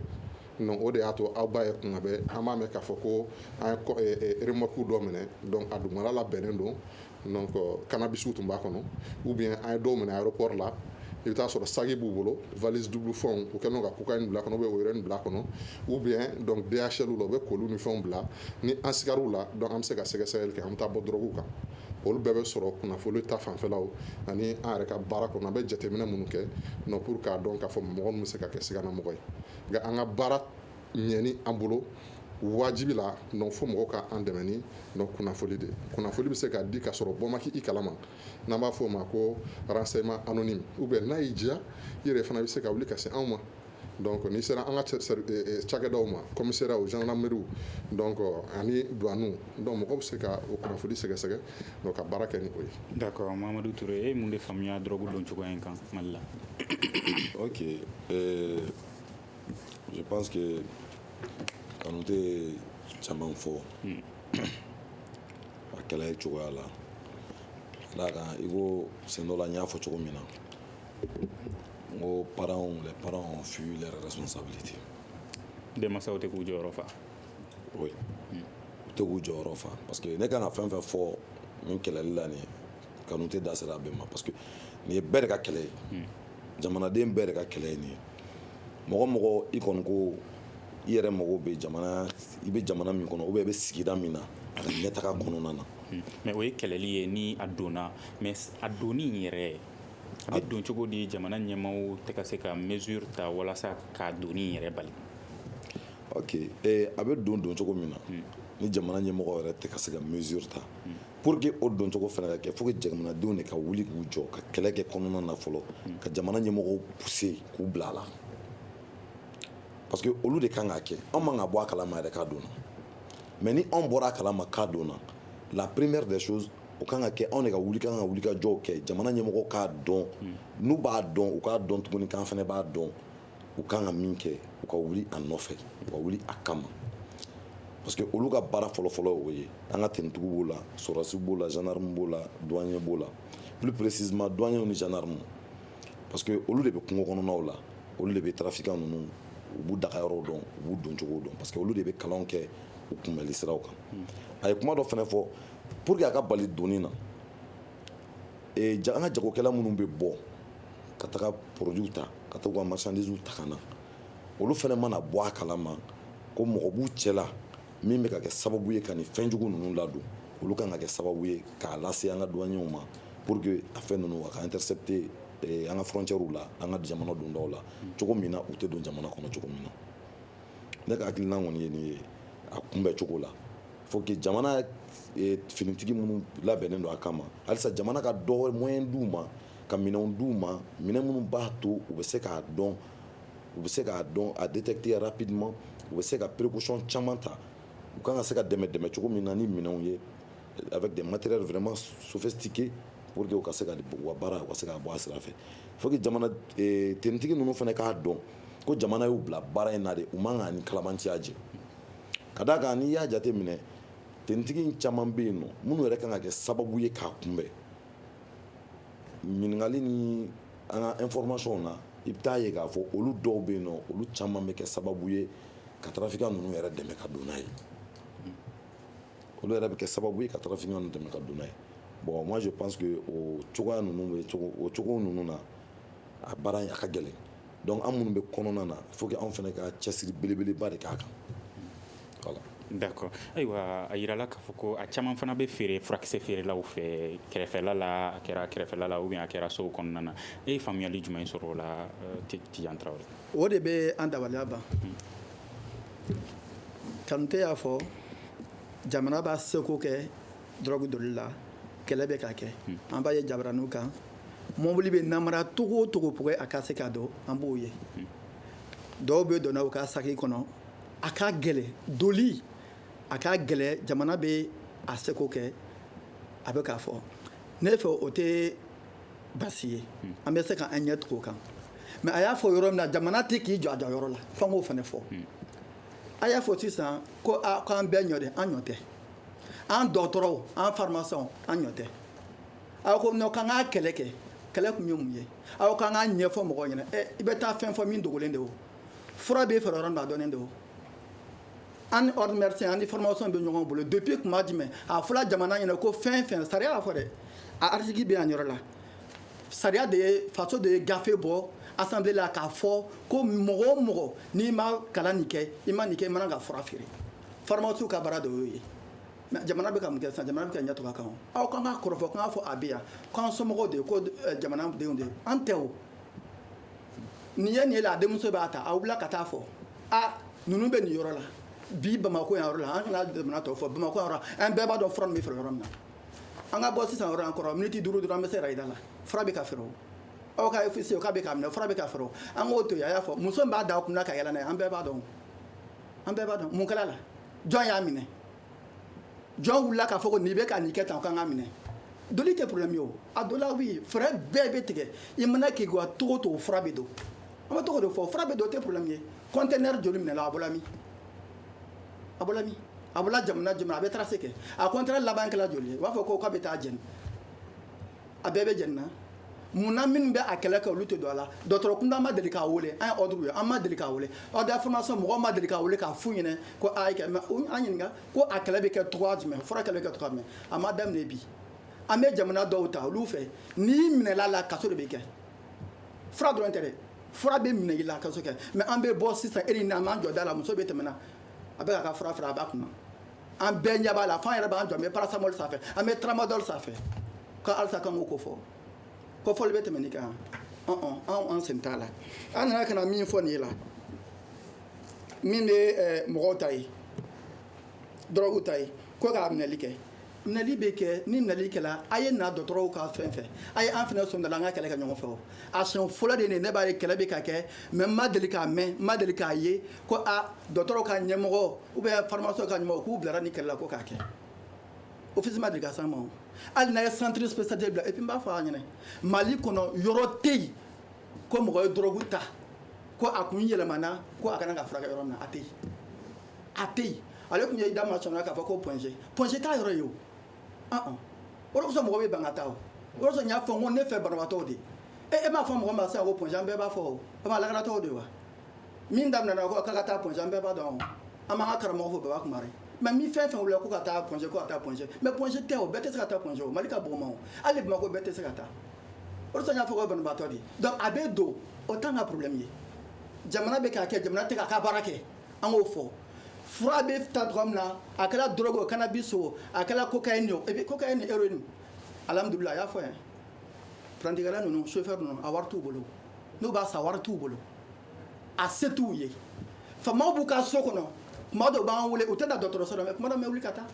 Speaker 7: o de y'a to aw ba ye kuma bɛ an b'a mɛn k'a fɔ ko an yemku dɔ minɛ a dugumana la bɛnnen don kana bisimila tun b'a kɔnɔ u bɛ a ye dɔw minɛ a yɔrɔ kɔɔri la i bɛ'a sɔrɔ saki b'u bolo vzdugu fɛnw u kɛlen ka'u ka bila kɔnɔ bɛ wɛrɛ in bila kɔnɔ u bɛ dɔn bɛnyɛnyɛn la u bɛ kolon ni fɛnw bila ni an sw la an bɛ se ka sɛgɛsɛ kɛ an bɛ taa bɔ dɔrɔnɔrɔw kan olu bɛɛ bɛ sɔrɔ kunnafoni ta fanfɛlaw ani an yɛrɛ ka baara kɔnɔ an bɛ jateminɛ minnu kɛ non pour k'a dɔn k'a fɔ mɔgɔ min bɛ se ka kɛ siganamɔgɔ ye nka an ka baara ɲɛni an bolo wajibi la donc fo mɔgɔw ka an dɛmɛ ni donc kunnafoni de kunnafoni bɛ se ka di k'a sɔrɔ bɔ ma kɛ i kalama n'an b'a fɔ o ma ko renseignement anonyme ou bien n'a y'i diya i yɛrɛ fana bɛ se ka wuli ka se anw ma Donc n'i sera an ka cɛ sari e e cakɛdaw ma commissariatw gendarmeriew donc ani douanew donc mɔgɔw bɛ se ka o kunnafoni sɛgɛsɛgɛ donc ka baara kɛ ni o ye d'accord Mamadu
Speaker 6: Ture e ye mun de faamuya drogue don cogoya in kan Mali la
Speaker 8: ok euh, je pense que Kanute ye caman fɔ hmm. a kɛlɛli cogoya la ka d'a kan i ko sen dɔ la n y'a fɔ cogo min na n ko parents les parents ont fui leur
Speaker 6: responsabilité denmansaw tɛ k'u jɔyɔrɔ fa
Speaker 8: oui u tɛ k'u jɔyɔrɔ fa parce que ne kan ka fɛn fɛn fɔ nin kɛlɛli la nin Kanute da sera a bɛɛ ma parce que nin ye bɛɛ de ka kɛlɛ ye jamanaden bɛɛ de ka kɛlɛ ye nin ye mɔgɔ o mɔgɔ i kɔni ko i yɛrɛ mago bɛ jamana i bɛ jamana min kɔnɔ ou bien i bɛ sigida min na a ka ɲɛtaga kɔnɔna na mais o ye
Speaker 6: kɛlɛli ye ni a donna mais a donni in yɛrɛ A bɛ don cogo di jamana ɲɛmaaw tɛ ka se ka mesure ta walasa k'a donni in yɛrɛ bali?
Speaker 8: Ok a bɛ don don cogo min na, un, ni jamana ɲɛmɔgɔ yɛrɛ tɛ ka se ka mesure ta, un, pour que o don cogo fana ka kɛ, faut que jamanadenw de ka wuli k'u jɔ ka kɛlɛ kɛ kɔnɔna na fɔlɔ, un, ka jamana ɲɛmɔgɔw pousser k'u bila a la parce que olu de ka kan k'a kɛ, anw man ka bɔ a kalama yɛrɛ k'a donna mais ni anw bɔra a kalama k'a donna la première des choses o kan ka kɛ anw de ka wuli k'an ka wulikajɔw kɛ jamana ɲɛmɔgɔ k'a dɔn hmm. n'u b'a dɔn u k'a dɔn tuguni k'an fana b'a dɔn u kan ka min kɛ u ka wuli a nɔfɛ u ka wuli a kama parce que olu ka baara fɔlɔfɔlɔ o ye an ka tenitigiw b'o la sɔrɔdasi b'o la gendarme b'o la douanier b'o la plus précisément douanier ni gendarme parce que olu de bɛ kungo kɔnɔnaw la olu de bɛ trafiquant ninnu u b'u dagayɔrɔw dɔn u b'u doncogow dɔn parce que olu de bɛ kalanw kɛ u kunbɛli siraw kan hmm. a ye kuma dɔ fana fɔ pour que a ka bali donni na ja an ka jagokɛla minnu bɛ bɔ ka taga produits ta ka taa ka marchandises ta ka na olu fana mana bɔ a kalama ko mɔgɔ b'u cɛla min bɛ ka kɛ sababu ye ka nin fɛnjugu ninnu ladon olu kan ka kɛ sababu ye k'a lase an ka douanew ma pour que a fɛn ninnu a ka intercepter an ka frontières la an ka jamana dondaw la cogo min na u tɛ don jamana kɔnɔ cogo min na ne ka hakilina kɔni ye nin ye a kunbɛn cogo la faut que jamana e, finitigi minnu labɛnnen don a kama halisa jamana ka des moyens d'u ma ka minɛnw d'u ma minɛn minnu b'a to u bɛ se k'a dɔn u bɛ se k'a dɔn a détecter rapidement u bɛ se ka précaution caman ta u kan ka se ka dɛmɛ dɛmɛ cogo min na ni minɛnw ye avec des matériels vraiment sophistiqués pour que u ka se ka u ka baara u ka se ka bɔ a sira fɛ faut que jamana e, tenitigi ninnu fana k'a dɔn ko jamana y'u bila baara in na de u man ka ni kalabanciya ye ka d'a kan n'i y'a jate minɛ tenitigi caman bɛ yen minnu yɛrɛ kan ka kɛ sababu ye k'a kunbɛn ɲininkakali ni an ka informationw na i bɛ t'a ye k'a fɔ olu dɔw bɛ yen olu caman bɛ kɛ sababu ye ka trafiquant ninnu yɛrɛ dɛmɛ ka don n'a ye olu yɛrɛ bɛ kɛ sababu ye ka trafiquant ninnu dɛmɛ ka don n'a ye bon moi je pense que o cogoya ninnu o cogo ninnu na a baara a ka gɛlɛn donc an minnu bɛ kɔnɔna na fo anw fana ka cɛsiri belebeleba de ka kan voilà
Speaker 6: d'accord ayiwa a yirala k'a fɔ ko a caman fana bɛ feere furakisɛ feerelaw fɛ kɛrɛfɛla la a kɛra kɛrɛfɛla la o a kɛra sow kɔnɔna na e ye faamuyali jumɛn sɔrɔ o la Tidiane Traoré o de bɛ
Speaker 4: an dabaliya ban kantɛ y'a fɔ jamana b'a seko kɛ drogue doli la kɛlɛ bɛ ka kɛ an b'a ye jabaraniw kan mɔbili bɛ namara togo o togo pour que a ka se ka don an b'o ye dɔw bɛ donna u ka saki kɔnɔ a ka gɛlɛ doli a ka gɛlɛ jamana bɛ a seko kɛ a bɛ k'a fɔ ne fɛ o tɛ basi ye an bɛ se ka an ɲɛ tugu o kan mais a y'a fɔ yɔrɔ min na jamana tɛ k'i jɔ a jɔyɔrɔ la f'an k'o fana fɔ a y'a fɔ sisan ko k'an bɛɛ ɲɔ de an ɲɔ tɛ an dɔgɔtɔrɔw an farimasiɲɛw an ɲɔ tɛ aw ko non k'an ka kɛlɛ kɛ kɛlɛ kun ye mun ye aw k'an k'a ɲɛfɔ mɔgɔ ɲɛna i bɛ taa fɛn fɔ min dogolen de o fura bɛ feere yɔrɔ dɔnnen de o an ni ordre médecin an ni pharmacien bɛ ɲɔgɔn bolo depuis tuma jumɛn a fɔra jamana ɲɛna ko fɛn fɛn sariya y'a fɔ dɛ a article bɛ yan yɔrɔ la sariya de ye faso de ye gafe bɔ assemblée la k'a fɔ ko mɔgɔ o mɔgɔ n'i ma kalan nin kɛ i ma nin kɛ i man kan ka fura feere farimasiw ka baara de y'o ye jamana bɛ ka mun kɛ sa jamana bɛ ka ɲɛ tugu a kan o aw k'an ka kɔrɔfɔ k'an ka fɔ a bɛ yan k'an somɔgɔw de ye ko eh, jamanadenw de ye an tɛ o nin ye nin ye la a denmuso b'a ta a wulila ka taa fɔ a ninnu bɛ nin yɔrɔ la bi bamakɔ yan yɔrɔ la an kana jamana tɔw fɔ bamakɔ yan yɔrɔ la an bɛɛ b'a dɔn fura min bɛ feere yɔrɔ min na an ka bɔ sisan yɔrɔ an kɔrɔ miniti duuru dɔrɔn an bɛ se rayida la fura bɛ ka feere o aw ka officier k'a bɛ k'a minɛ fura bɛ ka feere o an k'o to yen a y'a fɔ muso min b'a da a kun na ka yaala n'a ye an bɛɛ b'a dɔn o an bɛɛ b'a dɔn mun kɛra a la jɔn y'a minɛ jɔn wulila k'a fɔ ko nin bɛ ka nin kɛ tan o ka kan ka minɛ doli tɛ problème ye o a donla oui fɛɛrɛ bɛɛ bɛ tigɛ i mana k'i wa togo o togo fura bɛ don an bɛ togo de fɔ fura bɛ don o tɛ problème ye conteneur joli minɛla a bɔla min a bɔla min a bɔla jamana jumɛn a bɛ tracer kɛ a conteneur laban kɛla joli ye u b'a fɔ ko k'a bɛ taa jɛni a bɛɛ bɛ jeni na munna minnu bɛ a kɛlɛ kɛ olu tɛ don a la dɔtɔrɔ kunda ma deli k'a weele an ye ordre ye an ma deli k'a weele ordre des pharmaciens mɔgɔ ma deli k'a weele k'a f'u ɲɛna ko an ɲininka ko a kɛlɛ bɛ kɛ cogoya jumɛn fura kɛlɛ bɛ kɛ cogo min a ma daminɛ bi an bɛ jamana dɔw ta olu fɛ n'i minɛla la kaso de bɛ kɛ fura dɔrɔn tɛ dɛ fura bɛ minɛ i la kaso kɛ mais an bɛ bɔ sisan e ni n'an jɔ da la muso bɛ tɛmɛna a bɛ k'a ka fura feere a b'a kunna an bɛɛ ɲɛ b'a la f'an yɛrɛ b'an jɔ an bɛ paracétamol san a fɛ an bɛ tramadol san a fɛ ko halisa k'an k'o ko fɔ ko fɔli bɛ tɛmɛ nin kan ɔn anw an sen t'a la an nana ka na min fɔ nin ye la min bɛ eh, mɔgɔw ta ye dɔrɔgu ta ye ko k'a minɛli kɛ minɛli bɛ kɛ ni minɛli kɛla a ye na dɔgɔtɔrɔw ka fan fɛ a ye an fana sen don a la an ka kɛlɛ kɛ ɲɔgɔn fɛ o a siɲɛ fɔlɔ de ye nin ye, ne b'a ye kɛlɛ bɛ ka kɛ mais n ma deli k'a mɛn n ma deli k'a ye ko aa dɔgɔtɔrɔw ka ɲɛmɔgɔ ou bien pharmacienw ka ɲɛmɔgɔ k'u bilara nin kɛlɛ la ko k'a kɛ ofisi ma deli ka s'an ma o hali n'a ye centre spécialisé bila et puis n b'a fɔ a ɲɛna Mali kɔnɔ yɔrɔ tɛ yen ko mɔgɔ ye dɔrɔgu ta ko a kun yɛlɛmana ko a ka na k'a furakɛ yɔrɔ min na a tɛ yen a tɛ yen ale tun ye i da ma sɔnna k'a fɔ ko Point G Point G t'a yɔrɔ ye o ɔn o de kosɔn mɔgɔ bɛ ban ka taa o o de kosɔn n y'a fɔ n ko ne fɛ banabaatɔw de e e m'a fɔ mɔgɔ ma sisan ko Point G an bɛɛ b'a fɔ o a b'a lakanatɔw de wa min daminɛna ko ka taa Point G an bɛɛ b'a dɔn an b'an ka karamɔgɔ fo Baba Kumare mais min fɛn fɛn wulila ko ka taa Point G ko ka taa Point G mais Point G tɛ o bɛɛ tɛ se ka taa Point G o Mali ka bon wa hali Bamako bɛɛ tɛ se ka taa o y'a fɔ banabaatɔ de donc a bɛ don o t'an ka problème ye jamana bɛ k'a kɛ jamana tɛ k'a ka baara kɛ an k'o fɔ fura bɛ ta cogo min na a kɛra drogue o cannabis o a kɛra cocaïne o et puis cocaïne ni héroïne alhamdulillah a y'a fɔ yan parantikɛla ninnu chauffeur ninnu a wari t'u bolo n'u b'a san wari t'u bolo a se t'u ye faamaw b'u ka so kɔnɔ tuma dɔw b'an wele u tɛ na dɔgɔtɔrɔso la mais tuma dɔ n bɛ wuli ka taa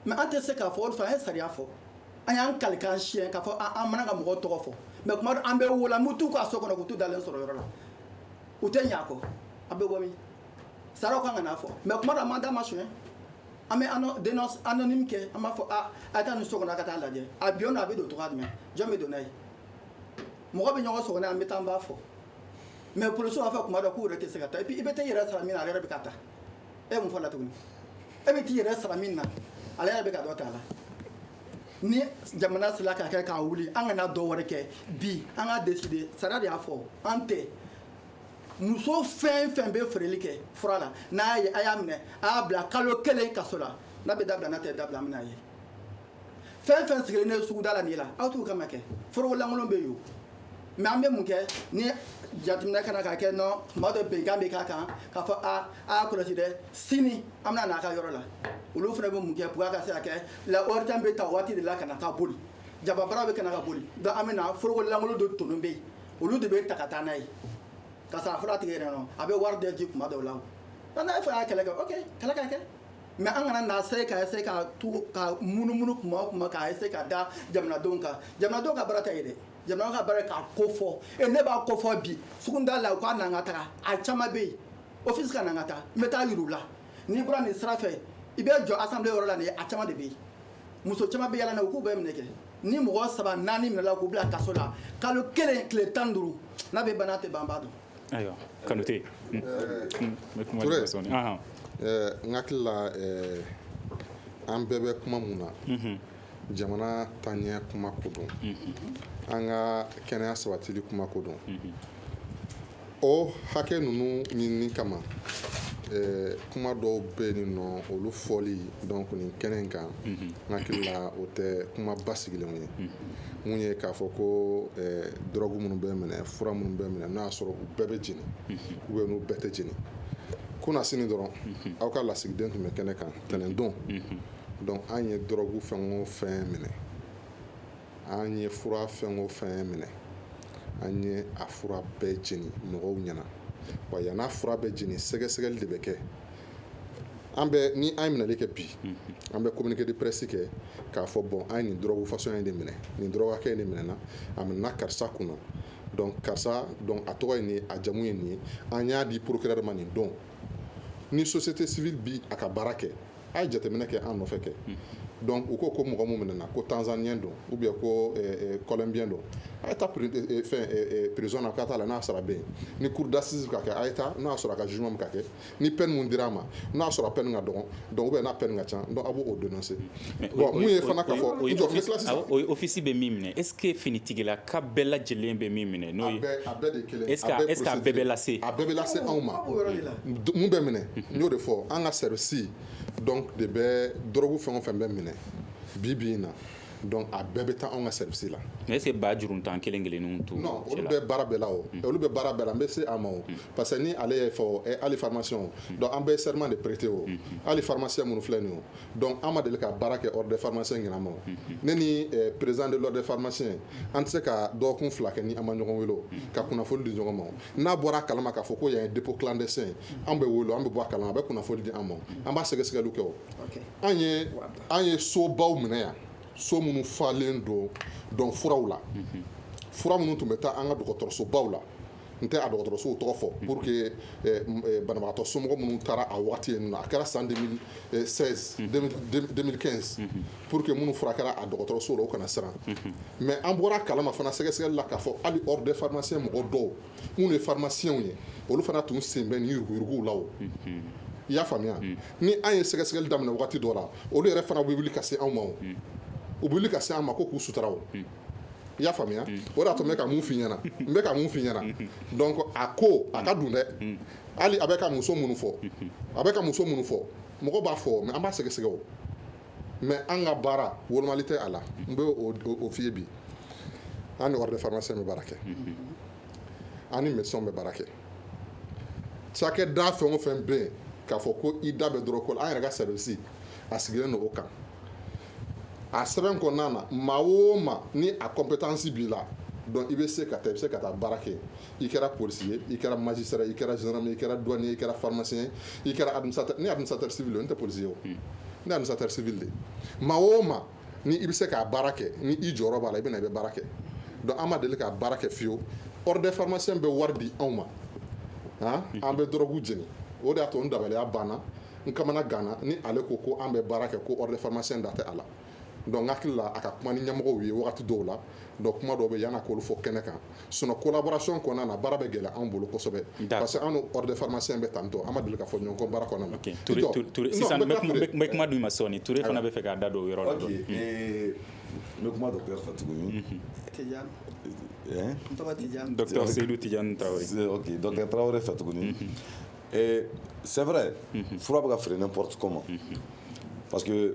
Speaker 4: mais an tɛ se k'a fɔ o fɛ an ye sariya fɔ an y'an kali k'an siɲɛ k'a fɔ an man kan ka mɔgɔw tɔgɔ fɔ mais tuma dɔ an bɛ wuli an bɛ t'u ka so kɔnɔ ka t'u dalen sɔrɔ yɔrɔ la u tɛ ɲa kɔ an bɛ bɔ min saraw kan ka n'a fɔ mais tuma dɔ an b'an da ma sonya an bɛ dénonce anonyme kɛ an b'a fɔ a a ye taa nin so kɔnɔ a ka taa lajɛ a bi yɔrɔ a bɛ don cogoya jumɛn jɔn bɛ don n'a ye mɔgɔ bɛ ɲɔgɔn sɔgɔ an bɛ taa an b'a fɔ mais polisiw b'a fɔ tuma dɔw k'u yɛrɛ tɛ se ka taa i bɛ taa i yɛrɛ sara min na a yɛrɛ bɛ k'a ta e mun fɔ la tuguni e bɛ t'i yɛrɛ sara min na ale yɛrɛ bɛ ka dɔ t'a la ni jamana sera k'a kɛ k'a wuli an kana dɔ wɛrɛ kɛ bi an ka décider sariya de y'a fɔ an tɛ muso fɛn fɛn bɛ feereli kɛ fura la n'a ye a y'a minɛ a y'a bila kalo kelen kaso la n'a bɛ dabila n'a tɛ dabila an n'a ye fɛn fɛn sigilen ne suguda la nin la aw t'u kama kɛ foroko lankolon bɛ yen mais an bɛ mun kɛ ni jateminɛ kana k'a kɛ nɔ tuma dɔ bɛnkan bɛ k'a kan k'a fɔ a y'a kɔlɔsi dɛ sini an bɛna n'a ka yɔrɔ la olu fana bɛ mun kɛ pour que a ka se ka kɛ la waritan bɛ ta waati de la ka na ka boli jababara bɛ ka na ka boli donc an bɛ na foroko lankolon dɔ tonnen bɛ yen olu de bɛ ta ka taa n'a ye ka sɔrɔ a fɔra a tigi yɛrɛ nɔ a bɛ wari de di tuma dɔw la o nka n'a y'a fɔ a y'a kɛlɛ kɛ ok kɛlɛ ka kɛ mais an kana na se ka essayer ka to ka munumunu kuma o kuma ka essayer k'a da jamanadenw kan jamanadenw ka baara tɛ ye dɛ jamana ka baara k'a ko fɔ e ne b'a ko fɔ bi suguda la u ka na an ka taga a caman bɛ yen office ka na an ka taa n bɛ taa yir'u la n'i bɔra nin sira fɛ i bɛ jɔ assemblée yɔrɔ la nin a caman de bɛ yen muso caman bɛ yala na u k'u bɛɛ minɛ kɛ ni mɔgɔ saba naani minɛla k'u bila kaso la kalo kelen tile tan duuru n'a bɛ ban n'a tɛ ban an b'a dɔn
Speaker 7: Ayiwa kanute n hakilila an bɛɛ bɛ kuma mun na jamana taaɲɛ kuma ko don an ka kɛnɛya sabatili kuma ko don o hakɛ ninnu ɲinini kama kuma dɔw bɛ nin nɔ olu fɔli donc nin kɛnɛ in kan n hakilila o tɛ kuma basigilenw ye mun ye k'a fɔ ko drogue minnu bɛ minɛ fura minnu bɛ minɛ n'a y'a sɔrɔ u bɛɛ bɛ jeni ou bien n'u bɛɛ tɛ jeni kunasini dɔrɔn aw ka lasigiden tun bɛ kɛnɛ kan ntɛnɛndon donc an ye drogue fɛn o fɛn minɛ an ye fura fɛn o fɛn minɛ an ye a fura bɛɛ jeni mɔgɔw ɲɛna wa yann'a fura bɛ jeni sɛgɛsɛgɛli de bɛ kɛ an bɛ ni an ye minɛli kɛ bi an bɛ communiqué de presse kɛ k'a fɔ bon an ye nin drogue façon in de minɛ nin drogue hakɛ in de minɛna a minɛna karisa kunna donc karisa donc a tɔgɔ ye nin ye a jamu ye nin ye an y'a di procureur ma nin don ni société civile bi a ka baara kɛ a ye jateminɛ kɛ an nɔfɛ kɛ donc u ko ko mɔgɔ min minɛna ko tanzanien don ou bien ko eh, eh, colombien don a ye taa eh, fɛn prison na ka taa la n'a sɔrɔ a bɛ yen ni cour d'assises ka kɛ a ye taa n'a sɔrɔ a ka jugement bɛ ka kɛ ni peine min dira a ma n'a sɔrɔ a peine ka dɔgɔn donc ou bien n'a peine ka ca donc a b'o dénoncer bon mun ye fana k'a fɔ office bɛ min minɛ
Speaker 6: est-ce que finitigilaka bɛɛ lajɛlen bɛ min minɛ n'o
Speaker 7: ye a bɛɛ
Speaker 6: bɛ lase a bɛɛ bɛ lase anw
Speaker 7: ma minnu bɛ minɛ n y'o de fɔ an ka service donc de bɛ drogue fɛn o fɛn bɛ minɛ bi bi in na donc a bɛɛ bɛ taa anw ka service la mais est-ce que ba juru
Speaker 6: tan kelen kelen to olu bɛ baara bɛɛ
Speaker 7: la o mm. olu bɛ baara bɛɛ la n bɛ se a ma mm. parce que ni ale ye fɔ eh, hali pharmacien mm. donc an bɛ serment de prêter o hali pharmacien minnu filɛ nin o donc an ma deli ka baara kɛ ordre des pharmaciens ɲinɛ ma ne ni eh, président de l'ordre des pharmaciens an tɛ se ka dɔgɔkun fila kɛ ni an ma ɲɔgɔn weele ka kunnafoni di ɲɔgɔn ma n'a bɔra a kalama k'a fɔ ko yan ye dépôt clandestin an bɛ weele an bɛ bɔ a kalama a bɛ kunnafoni di an ma an b'a sɛgɛsɛgɛli kɛ o an ye an ye so baw minɛ yan so minnu falen don donc furaw la fura minnu tun bɛ taa an ka dɔgɔtɔrɔso baw la n tɛ a dɔgɔtɔrɔsow tɔgɔ fɔ pour que banabagatɔ somɔgɔ minnu taara a waati yen a kɛra san 2015 pour que minnu furakɛra a dɔgɔtɔrɔsow la o kana siran mais an bɔra a kalama fana sɛgɛsɛgɛli la k'a fɔ hali ordre des pharmaciens mɔgɔ dɔw minnu ye pharmaciens ye olu fana tun sen bɛ nin yurugu-yuruguw la o i y'a faamuya ni an ye sɛgɛsɛgɛli daminɛ waati dɔ la olu yɛrɛ fana bɛ wuli ka se anw ma u bɛ wuli ka se an ma ko k'u sutura o i y'a faamuya o de y'a to n bɛ ka mun f'i ɲɛna donc a ko a ka dun dɛ hali a bɛ ka muso minnu fɔ a bɛ ka muso minnu fɔ mɔgɔ b'a fɔ mais an b'a sɛgɛsɛgɛ o mais an ka baara wolomali tɛ a la n bɛ o f'i ye bi an ni ordre des pharmaciens bɛ baara kɛ ani mɛ bɛ baara kɛ cakɛ da fɛn o fɛn bɛ yen k'a fɔ ko i da bɛ dɔrɔn ko an yɛrɛ ka sɛbɛnsi a sigilen o kan a sɛbɛn kɔnɔna na maa o ma ni a kɔnp bɛ taasi b'i la dɔn i bɛ se ka taa i bɛ se ka taa baara kɛ i kɛra polisi ye i kɛra maji sera i kɛra zme i kɛra dɔni i kɛra farimasi ye i kɛra ni amisatasi n tɛ polisi ye o ne amisatasibi de maa o ma ni i bɛ se k'a baara kɛ ni i jɔyɔrɔ b'a la i bɛ na i bɛ baara kɛ donc an ma deli k'a baara kɛ fiyewu ordre des pharmaciens bɛ wari di anw ma han an bɛ dɔrɔgu jeni o de y'a to n dabaliya banna n kamana ganna ni ale ko ko an bɛ baara kɛ ko ordre des pharmaciens da tɛ a la donc n hakili la a ka kuma ni ɲɛmɔgɔw ye wagati dɔw la donc kuma dɔw bɛ yann'a k'olu fɔ kɛnɛ kan sinon collaboration kɔnɔna na baara bɛ gɛlɛya anw bolo kosɛbɛ parce que an ni ordre des pharmaciens bɛ tan tɔ an ma deli ka fɔ ɲɔgɔn kɔ baara kɔnɔna na ok Ture Ture sisan
Speaker 6: n bɛ kuma d'u ma sɔɔni Ture fana b'a fɛ k'a da don o yɔrɔ la ok ɛɛ n bɛ kuma docteur
Speaker 8: fɛ tuguni Tijani ɛɛ
Speaker 6: n tɔgɔ Tijani docteur Seyidu Tijani Tarawele ok docteur
Speaker 8: Tarawele fɛ tuguni c'est vrai fura bɛ ka feere n'importe comment parce que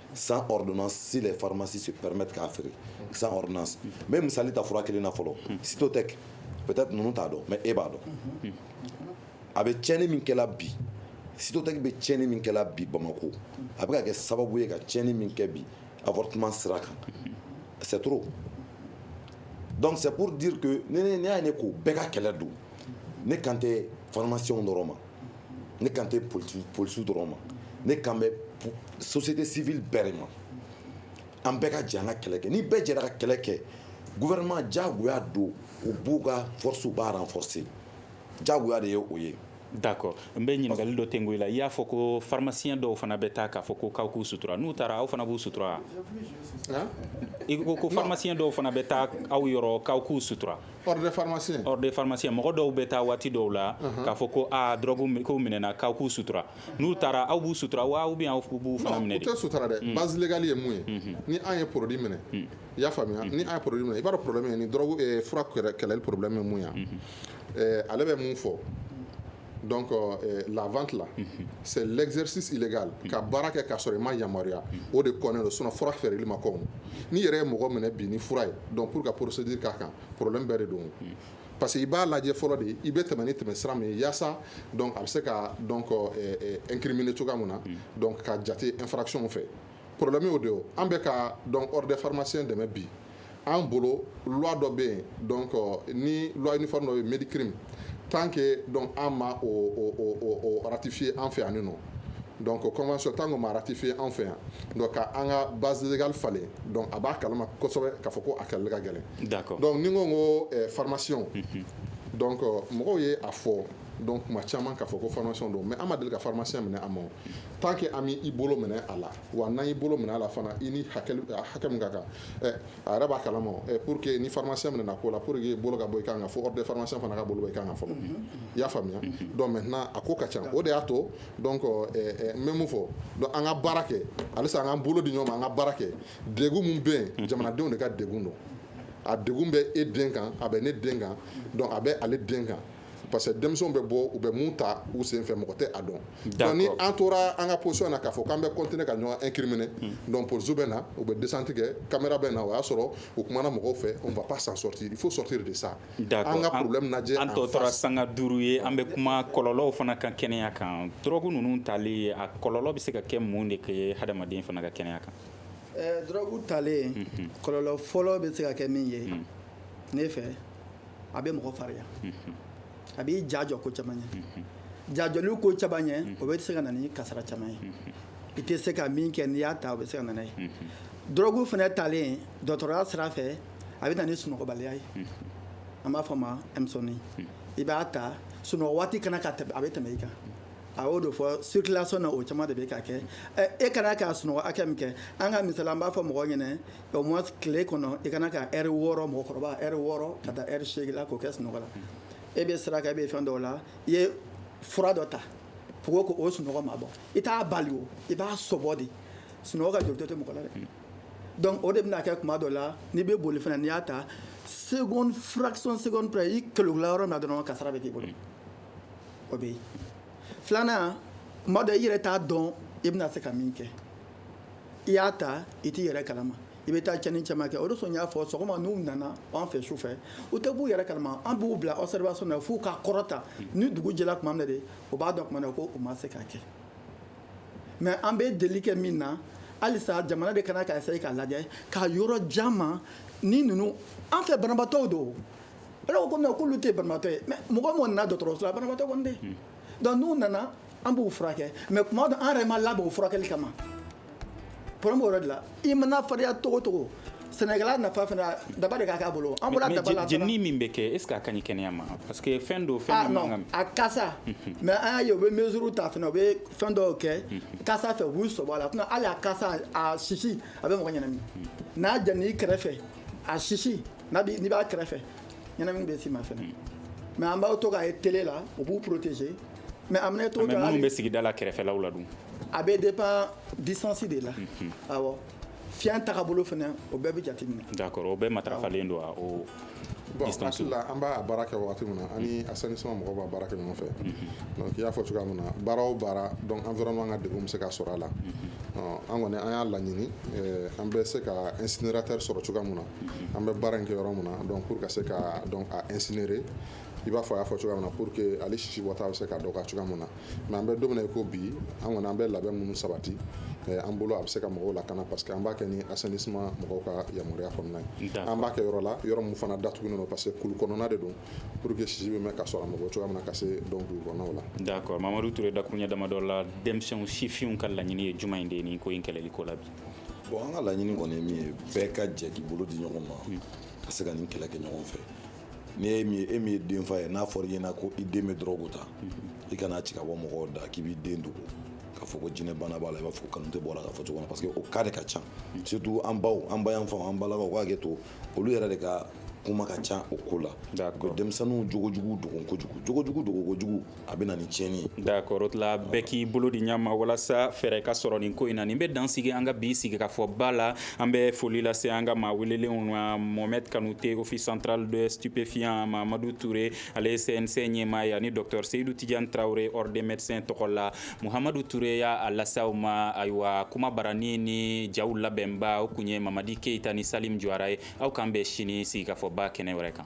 Speaker 8: sans ordonnance si les pharmacies se permettent k'a feere sans ordonnance n bɛ misali ta fura kelen na fɔlɔ Cytotec peut-être ninnu t'a dɔn mais e b'a dɔn a bɛ tiɲɛni min kɛla bi Cytotec bɛ tiɲɛni min kɛla bi Bamako a bɛ ka kɛ sababu ye ka tiɲɛni min kɛ bi avortement sira kan c'est trop donc c'est pour dire que ne y'a ye ne ko bɛɛ ka kɛlɛ don ne kan tɛ pharmaciens dɔrɔn ma ne kan tɛ polisiw dɔrɔn ma ne kan bɛ société civile bɛɛ ma an bɛɛ ka jɛ an ka kɛlɛ kɛ ni bɛɛ jɛra ka kɛlɛ kɛ gouvernement jagoya don u b'u ka force b'a renforcer jagoya de ye o ye
Speaker 6: d'accord n bɛ ɲininkali dɔ tengu i la i y'a fɔ ko pharmaciens dɔw fana bɛ taa k'a fɔ ko k'aw k'u sutura n'u taara aw fana b'u sutura i ko ko pharmaciens dɔw fana bɛ taa aw yɔrɔ k'aw k'u sutura
Speaker 7: pharmacien mɔgɔ dɔw bɛ taa
Speaker 6: waati dɔw la k'a fɔ ko aa drogue ko minɛna k'aw k'u sutura n'u taara aw b'u sutura wa ou bien aw b'u fana minɛ u de tɛ sutura dɛ
Speaker 7: base légale ye mun ye ni an ye produit minɛ i y'a faamuya ni an ye produit minɛ i b'a dɔn problème ye ni drogue fura kɛlɛli problème ye mun ye ale bɛ mun fɔ donc euh, la vente là mm -hmm. c'est l'exercice illégal mm -hmm. ka baara kɛ k'a sɔrɔ i ma yamaruya mm -hmm. o de kɔnnen don sinon fura feereli ma kɔn n'i yɛrɛ ye mɔgɔ minɛ bi ni fura ye donc pour ka procédure k'a kan problème bɛɛ de don mm-hmm. parce que i b'a lajɛ fɔlɔ de i bɛ tɛmɛ ni tɛmɛ sira min ye yaasa donc a bɛ se ka donc euh, euh, incriminer cogoya min na mm-hmm. donc ka jate infraction fɛ Porolɛ'o don an bɛ ka dɔn de farimasen dɛmɛ bi an bolo wula dɔ bɛ yen dɔn kɔ ni layi dɔ bɛ mi kiri tan ke dɔn an ma aratifiye an fɛ yan dɔn ko kɔman sɔrɔ tan ko maratifiye an fɛ yan ka an ka bazka falen a b'a kala kosɛbɛ ka fɔ ko a ka ka gɛlɛn dɔnku ni ko ko farimasiy dɔn kɔ mɔgɔw ye a fɔ dɔn kuma caman ka fɔ ko faramasi don mɛ an ma deli ka faramasi minɛ a ma tant que an m'i bolo minɛ a la wa n'an y'i bolo minɛ a la fana i ni hakɛ min ka kan a yɛrɛ b'a kalama pour que ni pharmacien minɛna ko la pour que bolo ka bɔ i kan fo ordre des pharmaciens fana ka bolo bɔ i kan fɔlɔ i y'a faamuya maintenant a ko ka ca o de y'a to donc n bɛ mun fɔ an ka baara kɛ halisa an k'an bolo di ɲɔgɔn ma an ka baara kɛ degun min bɛ yen jamanadenw de ka degun don a degun bɛ e den kan a bɛ ne den kan a bɛ ale den kan parce que denmisɛnw bɛ bɔ u bɛ mun ta u sen fɛ mɔgɔ tɛ a dɔn donc ni an tora an ka position na k'a fɔ k'an bɛ continuer ka ɲɔgɔn incriminer donc police bɛ na u bɛ descente kɛ caméra bɛ na o y'a sɔrɔ u kumana mɔgɔw fɛ on va pas s'en sortir il faut sortir de ça d'accord an ka problème lajɛ an tɔ tora sanga
Speaker 6: duuru ye an bɛ kuma kɔlɔlɔw fana kan kɛnɛya kan drogue ninnu tali a kɔlɔlɔ bɛ se ka kɛ mun de kɛ hadamaden fana ka kɛnɛya kan eh, drogue
Speaker 4: talen kɔlɔlɔ fɔlɔ bɛ se ka kɛ min ye ne fɛ a bɛ mɔgɔ farinya a b'i jajɔ ko caman ye jajɔli ko caman ye o bɛ se ka na ni kasara caman ye i tɛ se ka min kɛ n'i y'a ta o bɛ se ka na n'a ye dɔrɔgu fana talen dɔtɔrɔya sira fɛ a bɛ na ni sunɔgɔbaliya ye an b'a fɔ ma insomnie i b'a ta sunɔgɔ waati kana ka a bɛ tɛmɛ i kan a y'o de fɔ circulation na o caman de bɛ ka kɛ e kana ka sunɔgɔ hakɛ min kɛ an ka misali an b'a fɔ mɔgɔ ɲɛna Au moins tile kɔnɔ i kana ka heure wɔɔrɔ mɔgɔkɔrɔba heure wɔɔrɔ ka taa heure segin la k'o kɛ sunɔgɔ la e bɛ sira kan e bɛ fɛn dɔw la i ye fura dɔ ta pour que o sunɔgɔ ma bɔ i t'a bali o i b'a sobɔ de sunɔgɔ ka joli tɛ mɔgɔ la dɛ donc o de bɛna kɛ kuma dɔ la n'i bɛ boli fana n'i y'a ta seconde fraction seconde i kɛlɛla yɔrɔ min na dɔrɔn kasara bɛ k'i bolo o bɛ yen filanan kuma dɔ i yɛrɛ t'a dɔn i bɛna se ka min kɛ i y'a ta i t'i yɛrɛ kalama i bɛ taa cɛnni caman kɛ o sɔn n y'a fɔ sɔgɔma n'u nana an fɛ su fɛ u tɛ b'u yɛrɛ kalama an b'u bila observation na f'u ka kɔrɔta ni dugu jɛra tuma min na de o b'a dɔn na ko u ma se k'a kɛ mais an bɛ deli kɛ min na halisa jamana de ka kan ka essayer k'a lajɛ ka yɔrɔ ja ma ni ninnu an fɛ banabatɔ don kɔmi k'olu tɛ banabatɔ ye mais mɔgɔ minnu nana dɔgɔtɔrɔso la banabatɔ dɛ donc n'u nana an b'u furakɛ mais tuma dɔ an yɛrɛ ma labɛn o furakɛli kama problème o yɔrɔ de la i mana farinya cogo o cogo sɛnɛkɛla nafa fana daba de k'a bolo an jenini min bɛ kɛ est-ce
Speaker 6: que a ka ɲi kɛnɛya ma parce que fɛn don fɛn a kasa
Speaker 4: mais an y'a ye u bɛ mesure ta fana u bɛ fɛn dɔw kɛ kasa fɛ u b'u sɔbɔ a la sinon hali a kasa a sisi a bɛ mɔgɔ ɲɛnamini n'a jenina i kɛrɛfɛ a sisi n'i b'a kɛrɛfɛ ɲɛnamini bɛ s'i ma fana mais an b'aw to k'a ye télé la u b'u protéger Mais a mana to minnu bɛ sigida
Speaker 6: la kɛrɛfɛlaw la dun a bɛ dépend
Speaker 4: distance de la awɔ fiɲɛ taabolo fana o bɛɛ bɛ jate minɛ d'accord o bɛɛ matarafalen
Speaker 6: don o distance la an b'a baara
Speaker 7: kɛ wagati min na ani assainissement mɔgɔw b'a baara kɛ ɲɔgɔn fɛ donc i y'a fɔ cogoya min na baara o baara donc environnement ka degun bɛ se ka sɔrɔ a la an kɔni an y'a laɲini an bɛ se ka incinérateur sɔrɔ cogoya min na an bɛ baara in kɛ yɔrɔ min na donc pour ka se ka donc a incinérer i b'a fɔ a y'a fɔ cogoya min na pour que ale sisi bɔta bɛ se ka dɔgɔya cogoya min na mais an bɛ don min na i ko bi an kɔni an bɛ labɛn minnu sabati eh, an bolo a bɛ se ka mɔgɔw lakana parce que an b'a kɛ ni assainissement mɔgɔw ka yamaruya kɔnɔna ye an b'a kɛ yɔrɔ la yɔrɔ min fana datugulen don parce que kulu kɔnɔna de don pour que sisi bɛ mɛn ka sɔrɔ a mɔgɔ cogoya min na ka se donc dugu kɔnɔnaw la d'accord mamadu
Speaker 6: ture dakuruɲɛ damadɔ la denmisɛnw sifinw ka laɲini ye jumɛn de ye nin ko in kɛlɛli ko la bi bon an ka laɲini
Speaker 8: kɔni ye min ye bɛɛ ka jɛ k'i bolo di ɲɔgɔn ma hmm. ka se ka nin kɛlɛ kɛ ɲɔgɔn fɛ ni e min ye denfa ye n'a fɔra i ɲɛna ko i den bɛ dɔrɔgu ta i kana ci ka bɔ mɔgɔw da k'i b'i den dogo k'a fɔ ko jinɛ bana b'a la i b'a fɔ kanute bɔra k'a fɔ cogo na parce que o cas de ka ca surtout an baw an ba yanfanw an balakaw u ka hakɛ to olu yɛrɛ de ka kuma ka ca o ko la ko denmisɛnninw jogojugu dogo kojugu jogojugu dogo kojugu a bɛ na ni tiɲɛni ye d'accord o tila
Speaker 6: bɛɛ k'i bolo di ɲa ma walasa fɛɛrɛ ka sɔrɔ nin ko in na nin bɛ dan sigi an ka bi sigi ka fɔ ba la an bɛ foli lase an ka maa welelenw ma mohamed kanute office central de stupéfiants mamadu ture ale ye cnc ɲɛmaa ye ani docteur seyidu tijan tarawele ordre des médecins tɔgɔ la muhamadu ture y'a lase aw ma ayiwa kuma barani ni jaw labɛnbaw tun ye mamadi keyita ni salimu jawara ye aw k'an bɛn sini sigi ka fɔ ba kɛnɛ wɛrɛ kan